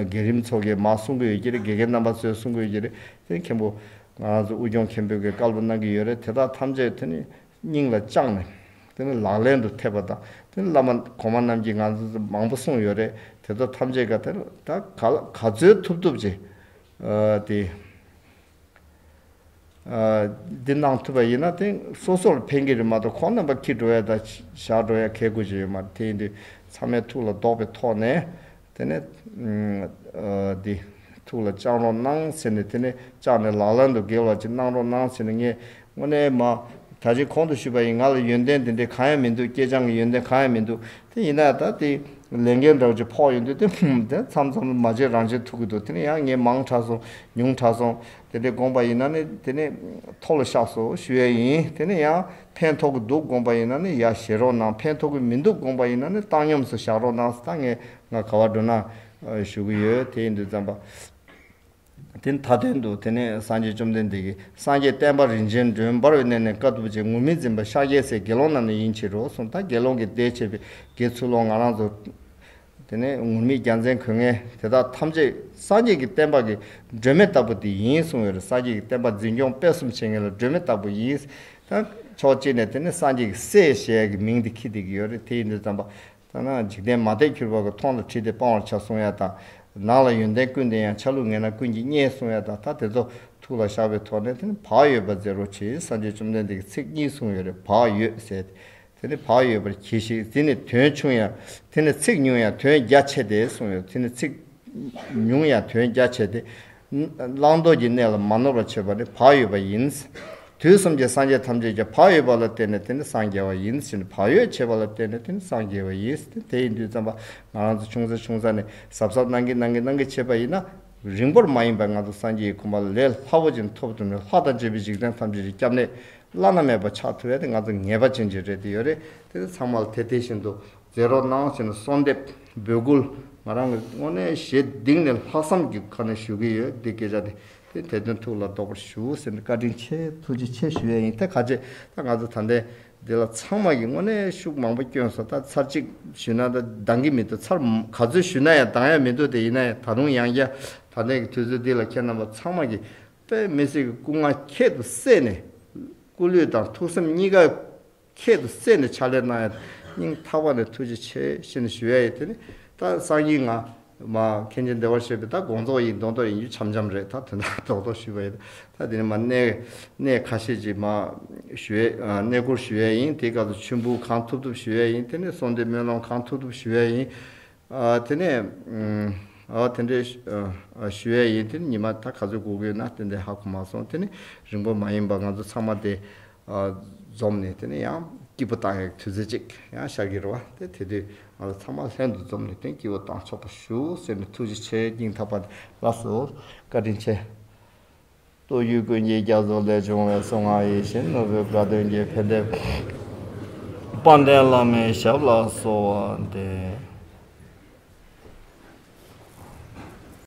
རྒན་རིམ་ཚོ་གིས་མ་གསུང་གི་ཡོད་ཀྱི་རེད་དགེ་རྒན་རྣམ་པ་ཚོས་གསུང་གི་ཡོད་ཀྱི་རེད་དེ་མཁན་པོ། ང་རང་ཚོ་དབུས་སྐྱོང་མཁན་པོས་གིས་བཀའ་སློབ་གནང་གི་ཡོད་རེད་དེ་དག་ཐམས་ཅད་དེ་ནི་སྙིང་ལ་བཅངས་ནས། དེ་ནི་ལག་ལེན་དུ་ཐེབས་པ་དང་དེ་ནི་བླ་མ་གོང་མ་རྣམས་ཀྱིས་ང་ཚོ་ཚོ་མང་པོ་གསུངས་ཡོད་རེད་དེ་ཚོ་ཐམས་ཅད་ག་དེ་ལ་ད་ག་ལ་ག་ཚོད་ཐུབ་ཐུབ་བྱས། དེ། འདི་གནང་ཐུབ་པ་ཡིན་ན་དེང་སོ་སོ་ལ་ཕན་གྱི་རེད་མ་གཏོགས་ཁོང་རྣམ་པ་ཁྱི་འགྲོ་ཡ་དང་ཞག་འགྲོ་ཡ་ཁས་དགོས་ཀྱི་ཡོད་མ་རེད་དེ་ཡིན་དུས་ཚང་མས་ཐུགས་ལ་བདོག་པའི་ཐོག་ནས་དེ་ནས་འདི་ཐུགས་ལ་བཅངས་རོགས་གནང་ཟེར་ནས་དེ་ནས་བཅངས་ནས་ལག་ལེན་དུ་འགེལ་བ་ཅིག་གནང་རོགས་གནང་ཟེར་ནས་ངས་དངོས་གནས་མ། ད་རྗེས་ཁོང་དུ་ཞུས་པ་ཡིན་ང་ལ་ཡོན་ཏན་དེ་འདྲའི་གང་ཡང་མི་འདུག་སྐྱེས་སྦྱངས་ཀྱི་ཡོན་ཏན་གང་ཡང་མི་འདུག་དེ་ཡིན་ན་ད་དེ། ལས་འགན་འདྲ་བོ་ཅིག་ཕོག་ཡོང་དུས་དེ་ཧུམ། དེ་མཚམས་མཚམས་ལ་མ་བརྗེད་རང་བརྗེད་ཐུག་གི་འདུག་དེ་ནི་ཡང་ངས་མང་དྲགས་སོང། ཉུང་དྲགས་སོང། དེ་འདྲའི་དགོངས་པ་ཡིན་ན་ནི་དེ་ནི། ཐོག་ལ་བཤགས་སོ་ཞུ་ཡས་ཡིན་དེ་ནི་ཡང། ཕན་ཐོགས་ཀྱི་འདུག་དགོངས་པ་ཡིན་ན་ནི་ཡ་བཞེས་རོགས་གནང་ཕན་ཐོགས་ཀྱི་མི་འདུག་དགོངས་པ་ཡིན་ན་ནི་བཏང་སྙོམས་སུ་བཞག་རོགས་གནང་ད་ངས་ང་ག་བ་འགྲོ་ན། ཞུ་གི་ཡོད་དེ་ཡིན་དུས་བརྩམས་པ། དེ་མཐའ་དོན་དུ་དེ་ནས་སངས་རྒྱས་བཅོམ་ལྡན་འདས་ཀྱིས་སངས་རྒྱས་བསྟན་པ་རིན་ཆེན་སྒྲོན་འབར་བའི་གནས་ནས་དཀའ་ཐུབ་ཅན་ངུར་སྨྲིག་འཛིན་པ་ཤཱཀྱའི་སྲས་དགེ་སློང་རྣམས་ནི་ཡིན་ཕྱིར་རོ་གསུངས་ད་དགེ་སློང་གིས་དེ་བྱས་པས་དགེ་ཚུལ་སློང་ང་རང་ཚོ། དེ་ནས་ངུར་སྨྲིག་རྒྱ་མཚན་གོས་ངན་དེ་དག་ཐམས་ཅད་སངས་རྒྱས་ཀྱི་བསྟན་པ་གྱི་སྒྲོན་མེ་ལྟ་བུ་དེ་ཡིན་གསུངས་བས་སངས་རྒྱས་ཀྱི་བསྟན་པ་འཛིན་སྐྱོང་སྤེལ་གསུམ་བྱེད་མཁན་ལ་སྒྲོན་མེ་ལྟ་བུ་ཡིན། ཕྱོགས་གཅིག་ནས་དེ་ནི་སངས་རྒྱས་ཀྱི་སྲས་ཞེས་ཀྱི་མིང་དེ་ཁྱི་དེ་གི་ཡོད་རེད་དེ་ཡིན་དུས་བརྩམས་པ། ཐ་ན་འཇིག་རྟེན་མ་བལྟས་གྱུར་པ་གི་ཐོག་ལ་ཁྲིད་དེ་སྤང་བར་བྱ་གསུང་ཡ་དང། ནང་ལ་ཡོན་ཏན་ཀུན་ལྡན་ཡང་ཆ་ལུགས་ངན་ན་ཀུན་གྱིས་བརྙས་གསུང་ཡ་དང་ད་དེ་ཚོ་ཐུགས་ལ་བཞག་པའི་ཐོག་ནས་དེ་ནི་བག་ཡོད་པར་མཛད་རོགས་བྱས་ཡིན་སངས་རྒྱས་བཅོམ་ལྡན་འདས་ཀྱི་ཚིག་གཉིས་གསུངས་ཡོད་རེད་བག་ཡོད་ཟེར་ཏེ། དེ་ནི་བག་ཡོད་པར་གྱིས་ཤིག་དེ་ནི་དོན་ཆུང་ཡང་དེ་ནི་ཚིག་ཉུང་ཡང་དོན་རྒྱ་ཆེ་སྟེ་གསུངས་ཡོད་དེ་ནི་ཚིག་ཉུང་ཡང་དོན་རྒྱ་ཆེ་སྟེ། བླང་དོར་གྱི་གནས་ལ་མ་ནོར་བར་བྱེད་པ་ནི་བག་ཡོད་པ་ཡིན། དུས་གསུམ་གྱི་སངས་རྒྱས་ཐམས་ཅད་ཀྱང་བག་ཡོད་པ་ལ་བརྟེན་ནས་དེ་ནི་སངས་རྒྱས་པ་ཡིན་ཕྱིན་བག་ཡོད་བྱེད་པ་ལ་བརྟེན་ནས་དེ་ནི་སངས་རྒྱས་པ་ཡིན་ཏེ་དེ་ཡི་འདུས་བརྩམས་པ་ང་རང་ཚོ་ཆུང་ས་ཆུང་ས་ནས་ཟབ་ཟབ་གནང་གིན་གནང་གིན་གནང་གིན་བྱས་པ་ཡིན་ན། རིང་པོར་མ་ཡིན་པར་ང་ཚོ་སངས་རྒྱས་ཀྱི་གོ་འཕང་ལས་སླ་བོ་ཅན་ཐོབ་ཐུབ་ནས་ལྷ་དང་བཅས་པའི་འཇིག་རྟེན་ཐམས་ཅད་ཀྱི་སྐྱབས་གནས་བླ་ན་མེད་པ་ཆགས་ཐུབ་ཡ་དེ་ང་ཚོ་ངེས་པ་ཅན་གྱི་རེད་དེ་ཡོད་རེད་དེ་ཚང་མ་ལ་དེ་དེ་བཞིན་དུ། མཛད་རོགས་གནང་ཟེར་ནས་གསོལ་འདེབས་འབོད་སྐུལ་ང་རང་གི་དངོས་གནས་ཞེ་སྡིག་ནས་ལྷག་བསམ་གྱི་ཁ་ནས་ཞུ་གི་ཡོད་འདི་སྐད་ཆ་དེ་དེ་དེ་དོན་ཐུགས་ལ་འདོགས་པར་ཞུ་ཟེར་ནས་བཀའ་དྲིན་ཆེ་ཐུགས་རྗེ་ཆེ་ཞུ་ཡས་ཡིན་ད་ག་ཅེ་ད་ང་ཚོ་ད་ལྟའི་འདི་ལ་ཚང་མ་གིས་དངོས་གནས་ཤུགས་མང་པོ་བསྐྱོན་སོང་ད་ཚར་གཅིག་ཞུས་ན་ད་འདང་གི་མི་འདུག་ཚར་ག་ཚོད་ཞུས་ན་ཡང་འདང་ཡ་མི་འདུག་དེ་ཡིན་ན་ཡང་ད་རུང་ཡང་བསྐྱར་ད་ལྟའི་གི་དུས་ཚོད་འདི་ལ་ཁྱེད་རྣམ་པ་ཚང་མ་གིས་དཔེ་མི་སྲིད་གི་སྐུ་ངག་ཁྱད་དུ་བསད་ནས་སྐུ་ལུས་དང་ཐུགས་སེམས་གཉིས་ཀ་ཁྱེད་དུ་བསྩལ་ནས་ཕྱག་ལེན་གནང་ཡོད། སྙིང་ཐག་པ་ནས་ཐུགས་རྗེ་ཆེ་ཞེས་ནས་ཞུ་ཡ་ཡིན་དེ་ནི་ད་གསང་སྙིང་ང། མ། མཁན་ཆེན་བདེ་བར་གཤེགས་པའི་ད་དགོངས་རྫོགས་ཡིན་མདོག་མདོག་ཡིན་རྒྱུ་འཆམ་འཆམ་རེད་ད་དོན་དག་རྡོག་རྡོག་ཞུས་པ་ཡིན་ད་དེ་ནི་མ། གནས་ཁ་ཤས་ཀྱི་མ། ཞུ་ཡ། གནས་སྐོར་ཞུ་ཡ་ཡིན་དེའི་སྐབས་སུ་མཆོད་འབུལ་གང་ཐུབ་ཐུབ་ཞུ་ཡ་ཡིན་དེ་ནི་གསོལ་འདེབས་སྨོན་ལམ་གང་ཐུབ་ཐུབ་ཞུ་ཡ་ཡིན། དེ་ནས། འོ་དེ་འདྲའི། ཞུ་ཡས་ཡིན་དེ་ནི་ཉི་མ་ད་ག་ཚོད་འགོར་གི་ཡོད་ན་དེ་འདྲའི་ཧ་གོ་མ་སོང་དེ་ནི་རིང་པོ་མ་ཡིན་པར་ང་ཚོ་ཚང་མ་དེ། འཛོམས་ནས་དེ་ནི་ཡང་སྐྱིད་པོ་བཏང་ཡག་དུས་ཚོད་ཅིག་ཡང་ཤར་གྱི་རེད་བ་དེ་དེ་དུས་ང་ཚོ་ཚང་མ་ལྷན་དུ་འཛོམས་ནས་དེང་སྐྱིད་པོ་བཏང་ཆོག་པ་ཞུ་ཟེར་ནས་ཐུགས་རྗེ་ཆེ་སྙིང་ཐག་པ་ནས་ལགས་སོ། བཀའ་དྲིན་ཆེ། སྟོད་ཡུལ་དགོན་གྱི་རྒྱ་མཚོ་ལས་བྱུང་བའི་གསུང་ངག་ཡིད་བཞིན་ནོར་བུའི་དགའ་སྟོན་གྱི་འཕེལ་འགྲིབ། དཔལ་ལྡན་བླ་མའི་ཞབས་ལ་གསོལ་བ་འདེབས།